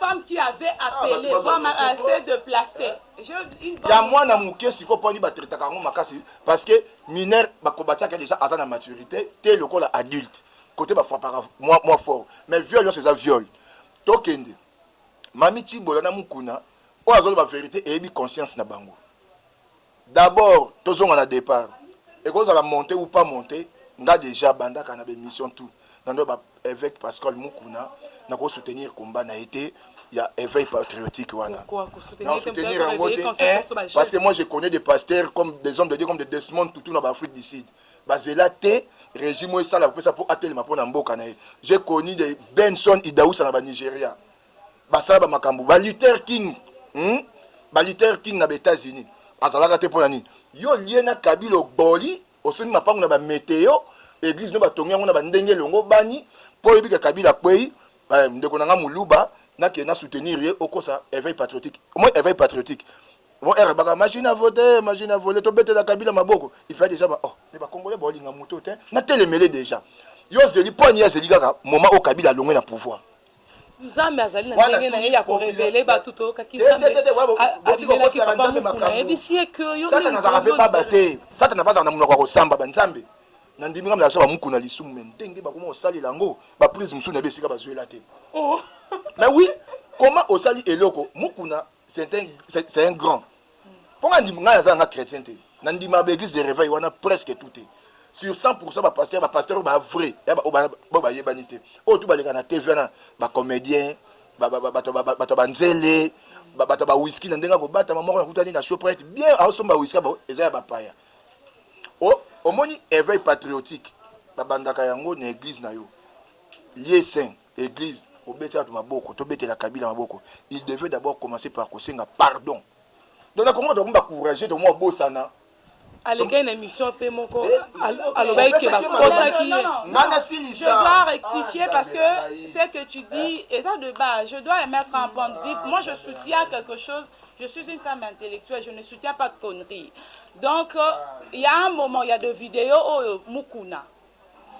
ya mwana moke sikoyo mpo ani batretaka yango makasi parce que mineur bakobatiaka deja aza na maturité te lokola adulte kote bafrapaka mwa, mwa fort mais viol nyonso eza viol tokende mami cibola na mukuna oyo azoloba verité eyebi conscience na bango d'abord tozonga na départ ekozala monte ou pas monte nga deja bandaka na bemission tout na ndoba Eveque Pascal Mukuna na ko soutenir combat na ye te ya éveil patriotique wana na soutenir yango te eh, parce que moi je connais des pasteurs comme des hommes de Dieu comme des Desmond Tutu na ba Afrique du Sud bazela te régime oyo esala kopesa mpo atelema mpo na mboka na ye j'ai connu de Benson Idausa na ba Nigeria basala ba makambo ba Luther King hmm? ba Luther King na ba États-Unis azalaka te mpo na nini yo lie na Kabila oboli Osimbi mapangu na ba meteo, eglise no batongi yango na ba ndenge elongo bani po oyebi ke Kabila akweyi, eh ndeko na nga muluba nakende na soutenir ye okosa eveil patriotique omoni eveil patriotique Bon heure baka machine à voter, machine à voler, tobetela Kabila maboko. Il fallait déjà ba oh, mais ba Congolais baolinga moto te. Na telemele déjà. Yo ozeli po ani azeli kaka moment o Kabila alongwe na pouvoir. nzambe azali na ndenge na ye ya korevele bato toyokaki nzambeabimelaki papa mokuna ayebisi ye ke yosatana azalaka mpe baba te satana bazala na monoko ya kosamba banzambe na ndimi ngambe azala bamuku na lisumu me ndenge bakoma kosalela yango baprise mosusu na ye esika bazwela te oh. me wi koma osali eloko mukuna c'est un, c'est, c'est un grand mpo nga ndima ngai naza nanga chrétien te na ndima ba église de réveil wana presque tout te sur 100% ba pasteur ba pasteur oyo ba vrai ya ba oyo bayebani te oyo tu baleka na tv wana ba comédien bato ya banzele bato ya bawiski na ndenge akobatama moko nakutani na shoprite bien aosomba wiski eza ya bapaya omoni éveil patriotique babandaka yango na église na yo lieu saint Eglise obeti batu maboko to betela kabila maboko il devait d'abord commencer par kosenga pardon donc na Congo tokomi ba courageux tokomi babosana alekaki na émission pe moko alobaki ke bakosaki ye je dois rectifier ah, parce que ce que tu dis eza de bas je dois émettre un point de vue moi je soutiens quelque chose je suis une femme intellectuelle je ne soutiens pas de conneries donc euh, il y a un moment il y a de vidéos oyo oh, mukuna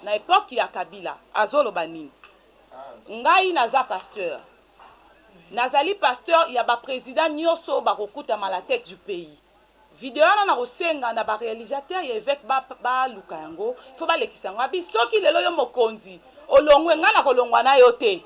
na epoque ya kabila azoloba nini ngai naza pasteur nazali pasteur ya ba president nioso oyo bakokutama la tete du pays video wana nakosenga na ba realisateur ya eveque ba baluka yango faut balekisa yango abi soki lelo yo mokonzi olongwe ngai nakolongwa nayo te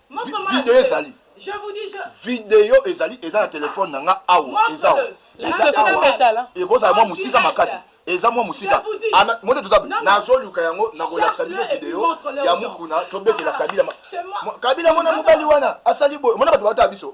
video ezali video ezali eza na telefone na nga awa eza awa ekozala mwa mosika makasi eza mwa mosika mote toza nazoluka yango nakolakisa bino video ya mokuna tobetela kabila kabila mona mobali wana asali boye mona bato baotala biso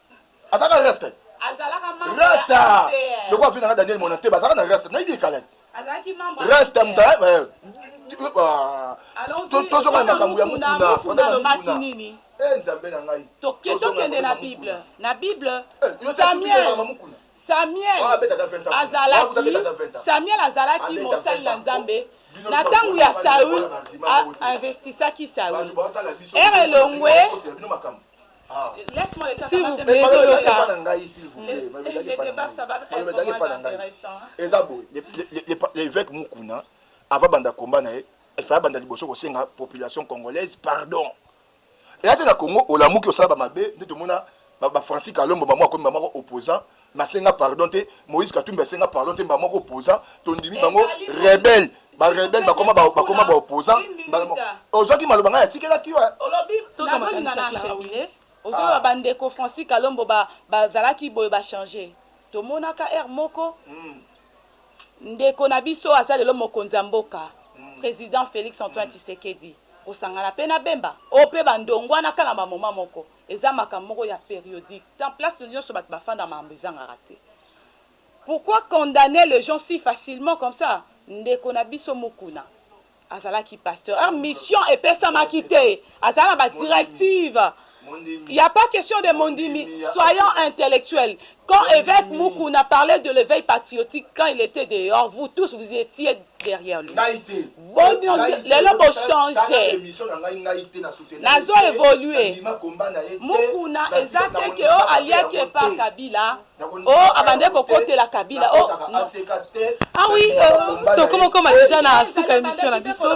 azalaka na reste reste lokola afina nga daniel mona te bazalaka na reste nayebi ekala reste ya moto tozonga makambo ya mokuna nini eh, nzambe na ngai tokende na bible na bible eh, samuel samuel azalaki samuel azalaki mosali ya nzambe na ntango ya saul investisaki saul ere elongwe S'il vous plaît, l'évêque Mukuna, avant banda combat na ye, il fallait banda liboso ko senga population congolaise pardon. Et ata na Congo olamuki osala ba mabe, nde tomona ba Francis Kalombo mamu akomi mamu opposant Na senga pardon te moise katumbi asenga pardon te mbala moko opposant tondimi bango rebel ba rebel bakoma ba bakoma ba opposant mbala moko ozwaki maloba ngai atikelaki yo ozoloba ba ndeko francis kalombo ba bazalaki boye ba changer tomonaka heure moko hmm. ndeko na biso aza lelo mokonzi ya mboka hmm. president felix antoine hmm. tshisekedi kosangana pe na bemba o pe bandongwanaka na bamoma moko Eza makambo moko ya periodique dans place nionso batu ba fanda mambo ezangaka te pourquoi condamner les gens si facilement comme ça ndeko na biso mukuna azalaki pasteur heure mission epesamaki te azala ba directive Il n'y a pas question de mondimi. Soyons intellectuels. Quand évêque Mukuna parlait de l'éveil patriotique, quand il était dehors, vous tous, vous étiez derrière lui ngai te boni lelo bo changer émission na ngai ngai te na soutenir nazo évoluer mukuna eza te que o aliaki epa kabila o abande kokotela kabila o ah oui euh, tokomokoma deja na suka émission na biso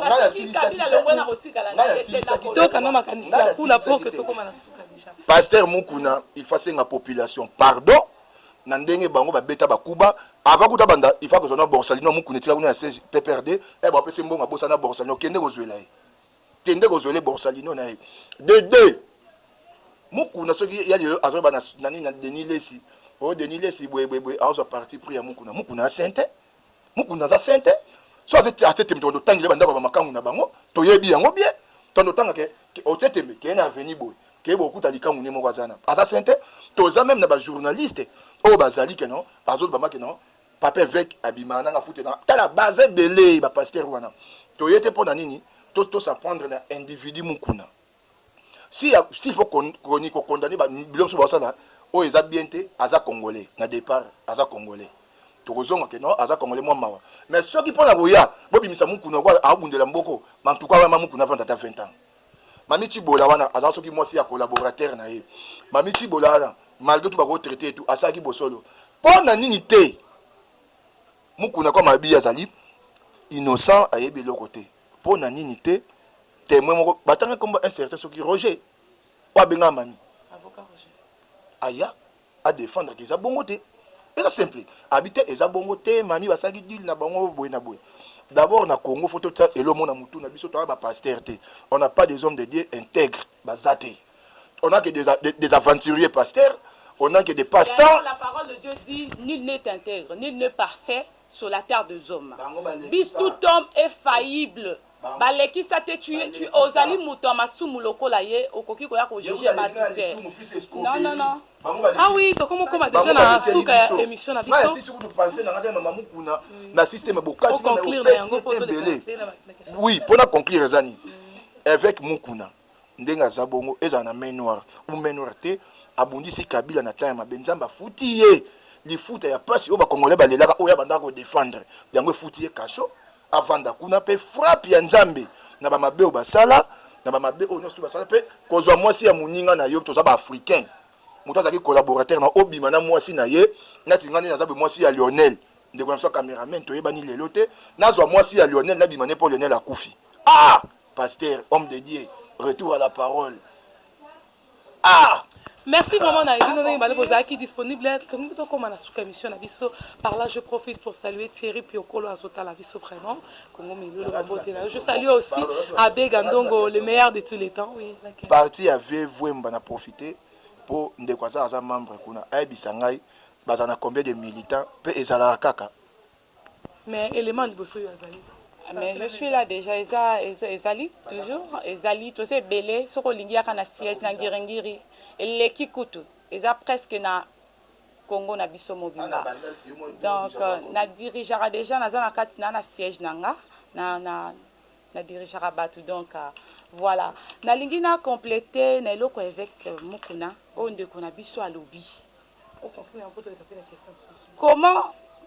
toka na makanisi ya kuna po que tokoma na suka deja pasteur mukuna il faut asenga population pardon na ndenge bango ba beta ba kuba avant kuta banda il faut kozwa na borsalino ya mukuna etika kuna ya siège PPRD eh ba pese mbongo abosa na borsalino kende kozwela ye kende kozwela borsalino na ye de deux mukuna soki ya lelo azoba na nani na Denis Lesi oh Denis Lesi bwe bwe bwe azo parti pris ya mukuna mukuna asente mukuna aza saint te so aza atie tembe tokondo tangile bandako ya bamakangu na bango toyebi yango bien tondo tanga ke otie tembe keye na aveni boye keye bokuta likangu ne moko aza na aza saint te toza meme na bajournaliste oyo bazali ke no bazoloba make no papa eveke abima nanga fute na tala baza ebele bapastere wana toye te mpo na nini to tosaprendre na individu mukuna si ya si faut koni ko condamner ba biloko so basala oyo eza bien te aza congolais na départ aza congolais tokozonga ke non aza congolais mwa mawa mais soki mpo na koya bobimisa mukuna kwa aobundela mboko mantuka wana mamukuna avanda ata 20 ans mami cibola wana aza soki mwasi ya collaborateur na ye mami cibola wana malgré tout bako traiter tout asalaki bosolo mpo na nini te mukuna kwa mabi azali innocent ayebi eloko te Pona nini te temoin moko batanga kombo un certain soki Roger oyo abengaka mami avocat Roger aya a defendre que eza bongo te eza simple abi te eza bongo te mami basalaki deal na bango boye na boye d'abord na Congo faut totia elomo na mutu na biso toza ba pasteur te on n'a pas des hommes de Dieu intègre baza te on a que des, des, des aventuriers pasteurs on a que des passe-temps la parole de Dieu dit nul n'est intègre nul n'est parfait sur la terre de zoma bis tout homme est faillible balekisa te tu es tu ozali moto ya masumu lokola ye okoki koya ko juger batu te non non non Ah oui, tokomo koma déjà na suka ya émission na biso. Maya sisi kutu penser na ngata mama mukuna na système bokati na conclure na yango poto de Oui, pona conclure ezani. Évêque mukuna Ndenge aza bongo ezala na main noir ou main noir te abundisi kabila na temps ya mabe nzambe afuti ye lifuta ya pasi oyo ba congolais ba lelaka oyo abandaka ko defendre yango efuti ye cacho avanda kuna pe frappe ya nzambe na ba mabe oyo basala na ba mabe oyo nionso basala pe kozwa mwasi ya muninga na yo toza ba africain moto azalaki collaborateur na obima na mwasi na ye nati nga nde naza be mwasi ya Lionel ndeko na biso cameraman toyebani lelo te nazwa mwasi ya Lionel nabima ne po Lionel akufi ah Pasteur homme de Dieu retour à la parole ah! Merci vraiment na bino ndenge bale bozalaki disponible tolingi tokoma na suka émission na biso par là je profite pour saluer Thierry Piokolo azotala biso vraiment Congo Milolo babotela je salue aussi Abbé Gandongo le meilleur de tous les temps oui okay. parti ya vieux Vuemba na profiter mpo ndeko aza aza membre kuna ayebisa ngai bazala na combien de militants mpe ezalaka kaka Mais element ya liboso oyo azali te. Mais je suis là dejà eza ezali toujours ezali toza ebele soki olingi yaka na siège na ngiringiri eleki kutu eza presque na Congo na biso mobimba donc euh, na dirigeaka dejà naza na kati na na siège na nga na na na dirigeaka bato donc euh, voilà nalingi na complete na eloko ya évêque Mukuna oyo ndeko na biso alobi Comment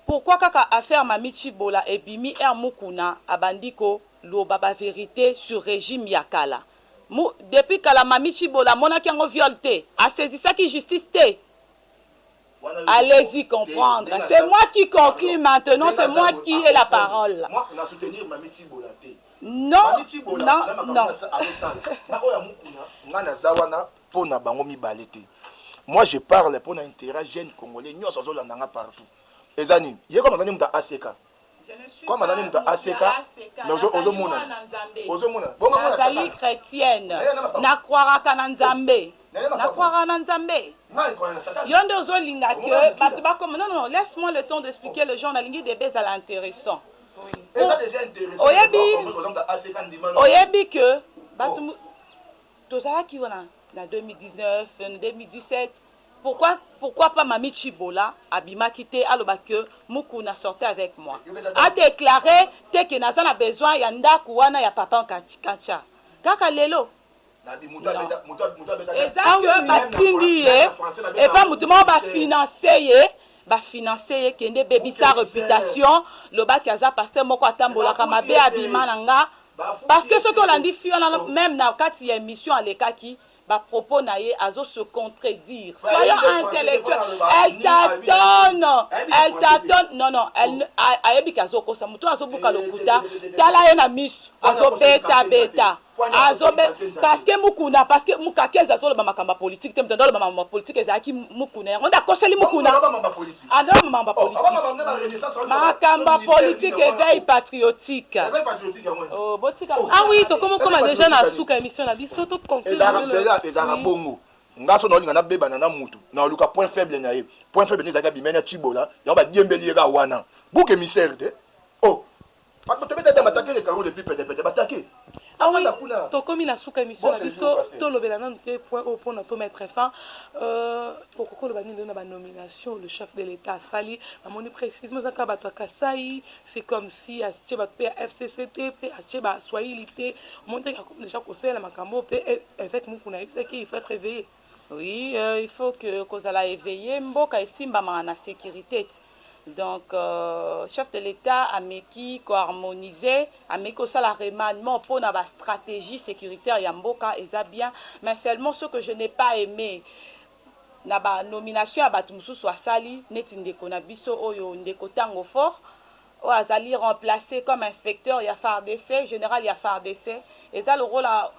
pourquoi kaka affaire Mamy Tshibola ebimi heure Mukuna abandi ko loba ba verite sur regime ya kala? Mu depuis kala Mamy Tshibola amonaki yango viol te? A saisissaki justice te? Allez-y comprendre c'est moi qui conclue maintenant c'est moi qui ai la parole. Non non non. pona bango mibale te moi je parle pona interet ya jeune congolais nionso azo landa nga partout eza nini ye comme aza nde mutu ya ACK comme aza nde mutu ya ACK mais ozo ozo mona ozo mona bongo mona nazali chretienne na croiraka na nzambe na croiraka na nzambe yo nde ozo linga que bato bakoma non non laisse moi le temps d'expliquer le genre nalingi debe ezala intéressant oyebi oyebi que bato oh. Tozalaki wana na 2019, 2017, pourquoi pourquoi pas Mamie Tshibola abimaki te aloba que Mukuna sortait avec moi. A declare te que naza na besoin ya ndaku wana ya papa Nkatsha. Kaka lelo? Non. Eza que batindi ye epa mutu moko ba financer ye ba financer ye kende bebisa reputation loba que aza pasteur moko atambolaka mabe abima na nga Parce que soki olandi fille wana meme na kati ya emission alekaki ba propos na ye azo se contredire. Soyons intellectuel. Elle tâtonne. Elle tâtonne. Non non, elle ayebi ki azo kosa mutu azo buka lokuta. Tala ye na misu azo beta beta. Azo be parce que mukuna parce que mukakenza azo loba makambo ya politique te mutu aloba makambo ya politique ezalaki mukuna yango nda koseli mukuna. Adolphe Mamba politique. Makamba politique éveil patriotique. Oh, botika. Ah oui, tokomo koma déjà na suka émission na biso to conclure. Ezaka ezaka bongo. Nga so naolinga nabebana na mutu naoluka point faible na ye point faible nde ezalaki abimani ya cibola yango badiembeli ye kaka wana buke misere te o oh. Ah oui, tokomi na suka emission na biso tolobela nanu te point oyo mpona to mettre fin euh, okoki oloba nini na banomination le chef de l'état asali namoni précisement eza kaka bato ya kasai c'est comme si atie bato mpe ya fcc te mpe atie baswahili te omoni te déjà kosalela makambo mpe eh, évêque mokuna ayebisaki il faut être éveillé Oui euh, il faut que kozala eveille mboka esimbamaka na securite te donc euh, chef de l'État ameki koharmoniser ameki kosala remaniement mpo na bastratégie sécuritaire ya mboka eza bien mais seulement ce que je n'ai pas aimé na banomination ya bato mosusu asali neti ndeko na biso oyo ndeko ntango fort Oyo azali remplacer comme inspecteur ya fardc, general ya fardc. Eza lokola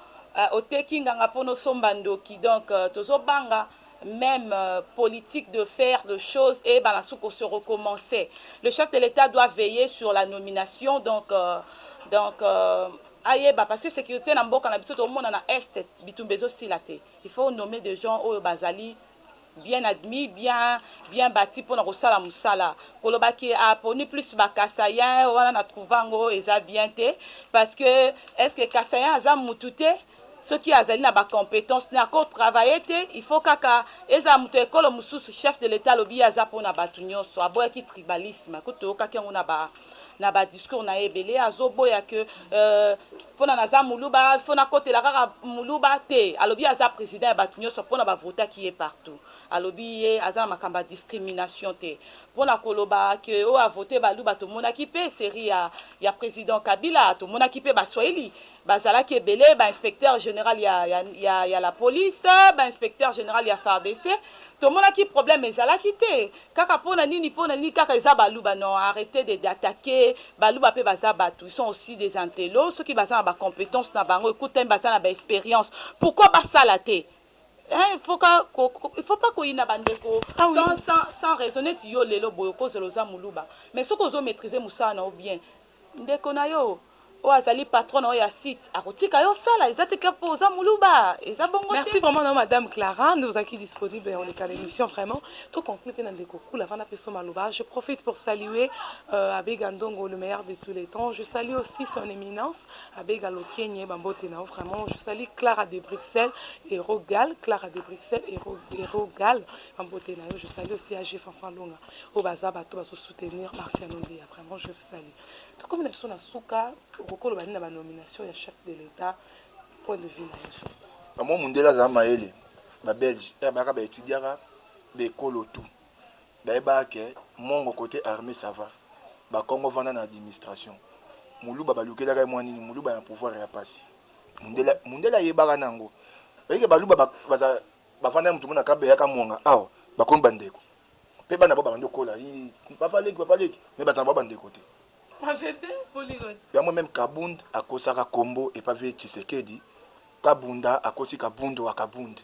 oteki nganga pona osomba ndoki. Donc tozo banga meme politique de faire de choses eyebana sous ko se recommence. Le chef de l'etat doit veiller sur la nomination donc donc ayeba parce que securite na mboka na biso tozo mona na Est bitumba ezo sila te. Il faut nommer des gens oyo bazali Bien admis, bien bien bati pona kosala musala. Koloba que a poni plus ba kasaiens wana na trouva yango eza bien te parce que est ce que kasaien aza mutu te? Soki azali na ba competences ne ako travailler te il faut kaka ezala mutu ya ekolo mususu chef de l'etat alobi ye aza pona batu nionso aboyaki tribalisme kutu toyokaki yango na ba na ba discours na ye ebele azoboya que euh, pona naza muluba fo nakotela kaka muluba te alobi aza president ya bato nyonso pona bavotaki ye partout alobi ye aza na makambo ya discrimination te pona koloba ke oyo avote baluba tomonaki mpe serie ya, ya president kabila tomonaki mpe baswahili bazalaki ebele bainspecteur général ya, ya, ya, ya la police bainspecteur général ya fardc tomonaki problème ezalaki te Kaka pona nini pona nini kaka eza baluba non arrete de d'attaque baluba pe baza batu ils sont aussi des intello soki baza na ba competence na bango ecoute teme baza na ba experience pourquoi basala te hein il faut ka ko il faut pas koyina ba ndeko ah sans sans sans raison neti yo lelo boye okozela oza muluba mais soki ozo maitriser musala na yo bien ndeko na yo Oyo azali patron na yo ya site akotika yo osala eza te que po oza muluba eza bongo te. Merci vraiment na yo madame Clara nde ozalaki disponible ya koleka na emission vraiment to conclure pe na ndeko Kula avanda pe soma aloba je profite pour saluer euh, Abbe Gandongo le meilleur de tous les temps je salue aussi son éminence Abbe Galokenye ba mbote na yo vraiment je salue Clara de Bruxelles et Rogal Clara de Bruxelles et, Ro, et Rogal ba mbote na yo je salue aussi AG Fanfan Longa oyo baza bato bazo soutenir Marcia Nombeya vraiment je vous salue Tokomi na biso na suka, okokoloba nini na ba nomination ya chef de l'etat, point de vue na yo sur ça? Ba mwa mundele azala mayele, ba belge eh baka ba etudiaka ba ekolo tout bayebaka ke mongo cote armee ça va, bakongo vanda na administration, muluba balukelaka ye mwa nini, muluba na pouvoir eya pasi, mundele mundele ayebaka na yango, oyebi ke baluba bazala bavandaka mutu moko na kabeya kamwanga awa bakomi ba ndeko. pe bana ba bandi kola yi papa leki papa leki mais bazala ba bandeko te yango meme kabund akosaka kombo epa vie tshisekedi kabunda akosi kabund wa kabund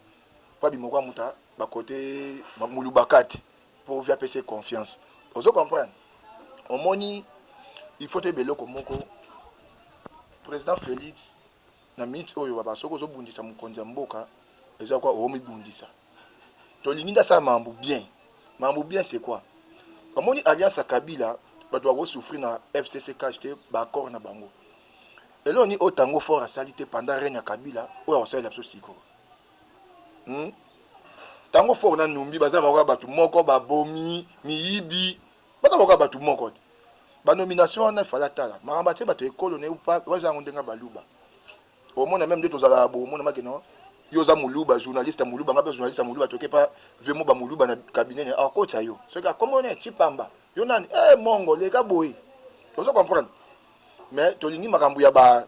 po abimoko ya muta bakote mulubakati po vie apesi confiance ozo comprendre omoni il faut toyeba eloko moko président félix na minutes oyo baba soki ozo bundisa mukonzi ya mboka eza kwa omi bundisa to lingi nda sa mambu bien mambu bien c'est quoi bamoni alliance ya kabila bato bako souffrir na FCC cash te ba accord na bango elo ni o tango fort asali te pendant règne ya kabila oyo akosalela biso siko hmm? tango fort na numbi baza makoka bato moko babomi miyibi Baza boka batu moko te. Ba nomination wana il fallait atala makambo atie bato ya ekolo na ye ou pas oza yango ndenge baluba omona meme nde tozalaka bo omona make non yo oza moluba journaliste ya moluba ngai mpe journaliste ya moluba toke mpa vemo ba moluba na cabinet na akotya yo soki akombo ne chipamba yo nani e mongo leka boye ozo comprendre mais tolingi makambo ya ba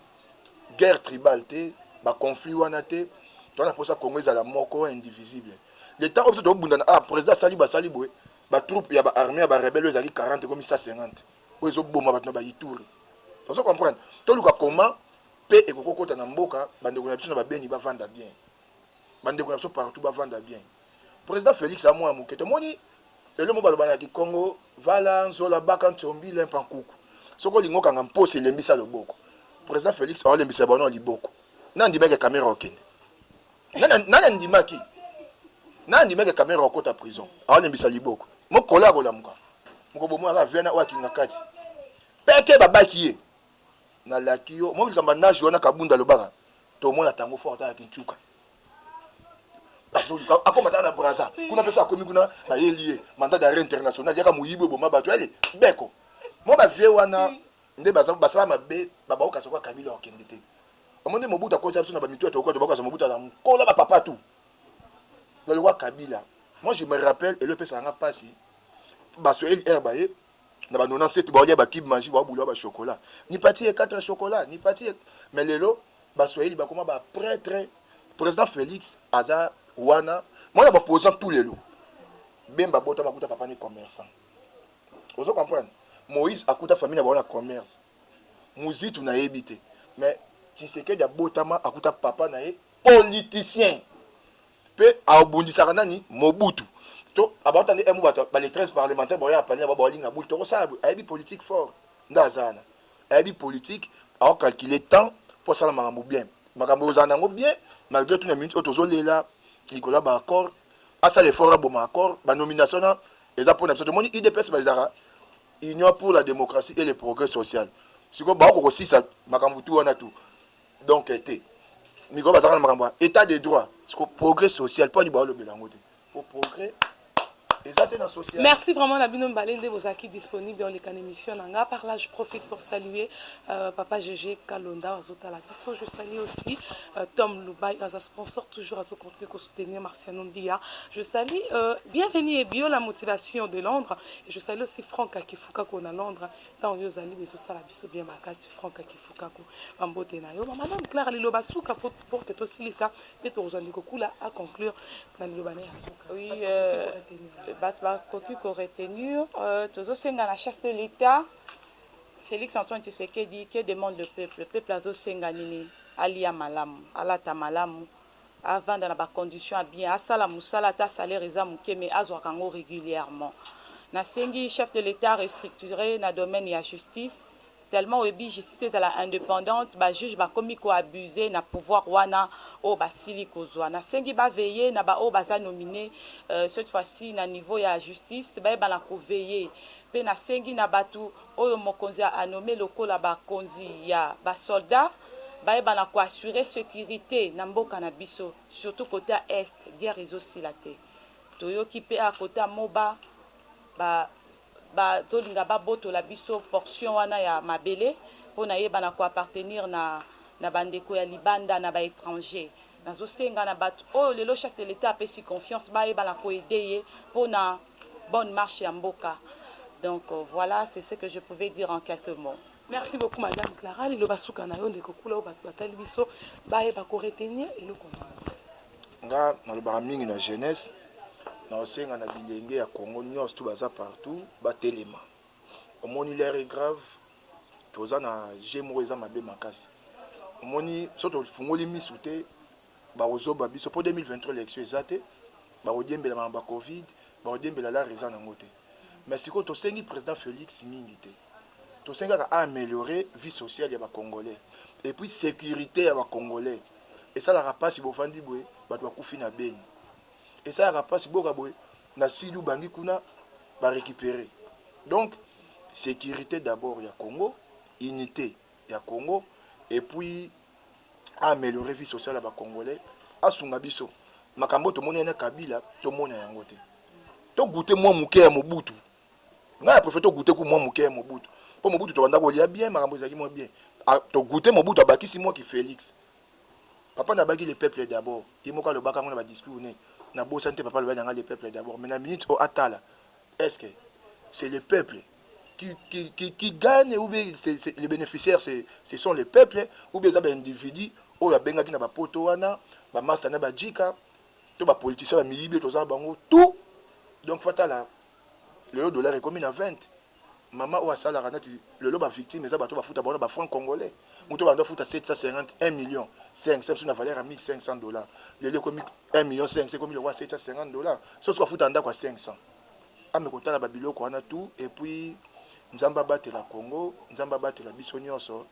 guerre tribale te ba conflit wana te toza na mposa congo ezala moko indivisible le temps oyo biso tobunda na ah président asali basali boye ba troupes ya ba armee ya ba rebelles oyo ezalaki 40 ekomi 150 oyo ezoboma bato na ba Ituri ozo comprendre toluka comment pe ekoki kokota na mboka bandeko na biso na babeni bavanda bien bandeko na biso partout bavanda bien président félix ya mwana moke tomoni lelo mo baloba na kikongo vala nzola baka nsombi lempa nkuku soki olingi okanga mposi elembisa loboko président félix aolembisa bango na liboko nandimeke kamera okende nani andimaki nani andimaki kamera okota prison aolembisa liboko mokola ya kolamuka mokobomwaka viana oyo akinga kati peke babaki ye nalaki yo mwa likambo nazi wana kabunda alobaka tomona tango fo ata na kincuka akoma tala na braza kuna mpe so akomi kuna bayeli ye mandat d'arret international yaka moyibi oboma bato yale beko mwa bavie wana nde basala mabe babaokasa kwa kabila okende te Omoni Mobutu akotisa biso na ba mitu ya tokokoto bakosa Mobutu aza nkola ba papa tout. Ba lokola Kabila. Moi je me rappelle elo epesaka nga pasi ba Swahili air baye na ba 97 baolia ba cube magie baobula ba chocolat. Nipatie 4 chocolat, nipatie mais lelo ba Swahili bakoma ba pretre. President Felix aza wana mwana ba opposant tout lelo. Bemba abotama kuta papa ni commerçant. Ozo comprendre? Moïse akuta famille na bango na commerce. muzitu nayebi te mais tshisekedi abotama akuta papa naye politicien pe abundisaka nani mobutu to abauta nde emu bato bale 13 parlementaire baoya na palina babo alinga buli tokosala boye ayebi politique fort nde aza wana ayebi politique ao calculer temps po asala makambo bien makambo ozala nango bien malgré tout na minute oyo tozolela likolo ya ba accord asala effort aboma accord ba nomination na eza pona biso tomoni udps bazalaka Union pour la democratie et le progrès social sikoyo baoko kosisa makambo tu wana tu donc eh, te mikolo bazalaka na makambo ya état de droit siko progrès social mpo ani baolobela yango te mpo progrès eza te na social merci vraiment na bino mibale nde bozalaki disponible oleka na émission na nga par là je profite pour saluer euh, papa gg kalonda azotala biso je salue aussi euh, tom lubai aza sponsor toujours azo mpe ko soutenir Marciano Mbiya. Je salue Bienvenue Ebiola Motivation de Londres et je salue aussi Franck Akifukako na Londres. Ntango yo ozali ba ezosala biso bien makasi Franck Akifukako. Ba mbote na yo. Ma Madame Clara, liloba suka mpo pour que tosilisa mpe tokozwa ndeko Kula a conclure na liloba na ye ya suka. Oui, bato bakoki ko retenir, tozosenga na chef de l'Etat Felix Antoine Tshisekedi, que demande le peuple? Peuple azosenga nini? Alia malamu, alata malamu. avanda na ba conditions ya bien asala musala ata salaire eza muke mais azwaka yango regulièrement nasengi chef de l'etat a restructurer na domaine ya justice tellement oyebi justice ezala independante ba juges bakomi ko abuser na pouvoir wana oyo basili kozwa nasengi ba veiller na ba oyo baza nominer cette fois ci na niveau ya justice bayebana ko veiller pe nasengi na batu oyo mokonzi a nommer lokola ba konzi ya ba soldats bayeba na ko assurer securite na mboka na biso surtout cote ya Est guerre ezo sila te toyoki pe a cote ya moba ba ba tolinga ba botola biso portion wana ya mabele po na yeba na ko appartenir na na ba ndeko ya libanda na ba etranger nazo senga na batu oyo lelo chef de l'etat apesi confiance bayeba na ko aider ye po na bonne marche ya mboka donc voila c'est ce que je pouvais dire en quelques mots. Merci beaucoup madame Clara liloba suka na yo ndeko kula oyo bato batali biso bayeba ko retenir eloko nini. Nga nalobaka mingi na jeunesse naosenga na bilenge ya Congo nyonso tu baza partout batelema omoni l'air est grave toza na je moko eza mabe makasi omoni so tofungoli misu te Bako zoba biso po 2023 election eza te bako diembelama na ba covid bako diembela lar eza na ngo te mais sikoyo tosengi president Felix mingi te tosengi kaka a ameliore vie sociale ya ba congolais epuis securite ya ba congolais esalaka pasi bovandi bwe bato bakufi na beni esalaka pasi boka bwe na sidi ubangi kuna ba recupere donc securite d'abord ya congo unite ya congo epuis a ameliorer vie sociale ya ba congolais asunga biso makambo oyo tomoni na kabila tomona yango te to goûter mwa moke ya mobutu ngai apréfère to goûter ku mwa moke ya mobutu mpo mobutu tobanda kolia bien makambo ezalaki mwa bien ah, to goûter mobutu abakisi mwa ki félix papa nabaki le peuple d'abord ye moko alobaka yango na badiscours ne nabosani te papa alobaki na ngai le peuple d'abord mais na minute oyo atala est ce que c'est le peuple qui, qui, qui, qui gagne ou bien c'est, c'est, les bénéficiaires c'est, ce sont les peuples ou bien eza ba individu oyo abengaki na bapoto wana bamasta na bajika to bapoliticien bamiyibi toza na bango tout donc fatala lelo dollar ekomi na 20 mama oyo asalaka neti lelo bavictime eza bato bafuta bango na bafranc congolais moto bando afuta 750 1 million 5 biso na valeur ya 1500 dollar lelo ekomi 1 million 5 ekomi lokwa 750 dollar soso bafuta ndako ya 500 Nzambe kotala ba biloko wana tout et puis nzambe abatela Congo nzambe abatela biso nionso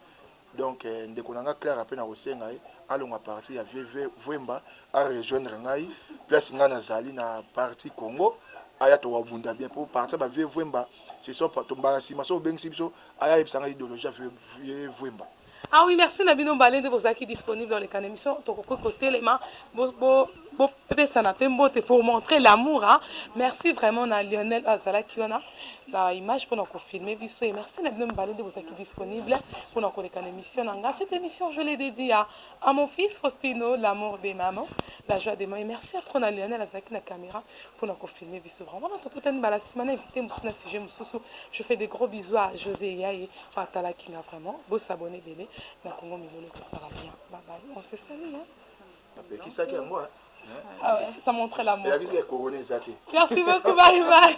donc ndeko na nga Clara pe na kosenga ye alonga parti ya vieux Vuemba a rejoindre ngai place ngai nazali na parti Congo aya tokobunda bien po parti ya ba vieux Vuemba ce sont tombala nsima soki obengisi biso aya ayebisa ngai idéologie ya vieux Vuemba Ah oui merci na bino mbale nde bozalaki disponible dans le can émission tokoki kotelema bo, bo, bo pesana pe mbote pour montrer l'amour hein. merci vraiment na Lionel azalaki wana ba image pona ko filmer biso et merci na bino mbale nde bozalaki disponible pona koleka na émission na nga cette émission je l'ai dédiée à, à mon fils Faustino l'amour des mamans la joie des mamans et merci à trop na Lionel azalaki na caméra pona ko filmer biso vraiment na tokutani bala sima na invité mosusu na sujet mosusu je fais des gros bisous à José Yaye Atalaki nga vraiment bo s'abonner ebele na Congo milolo ekosala bien bye bye on se salut hein. Apekisaki yango hein. Ah ouais, ça montre l'amour. Merci beaucoup, bye bye.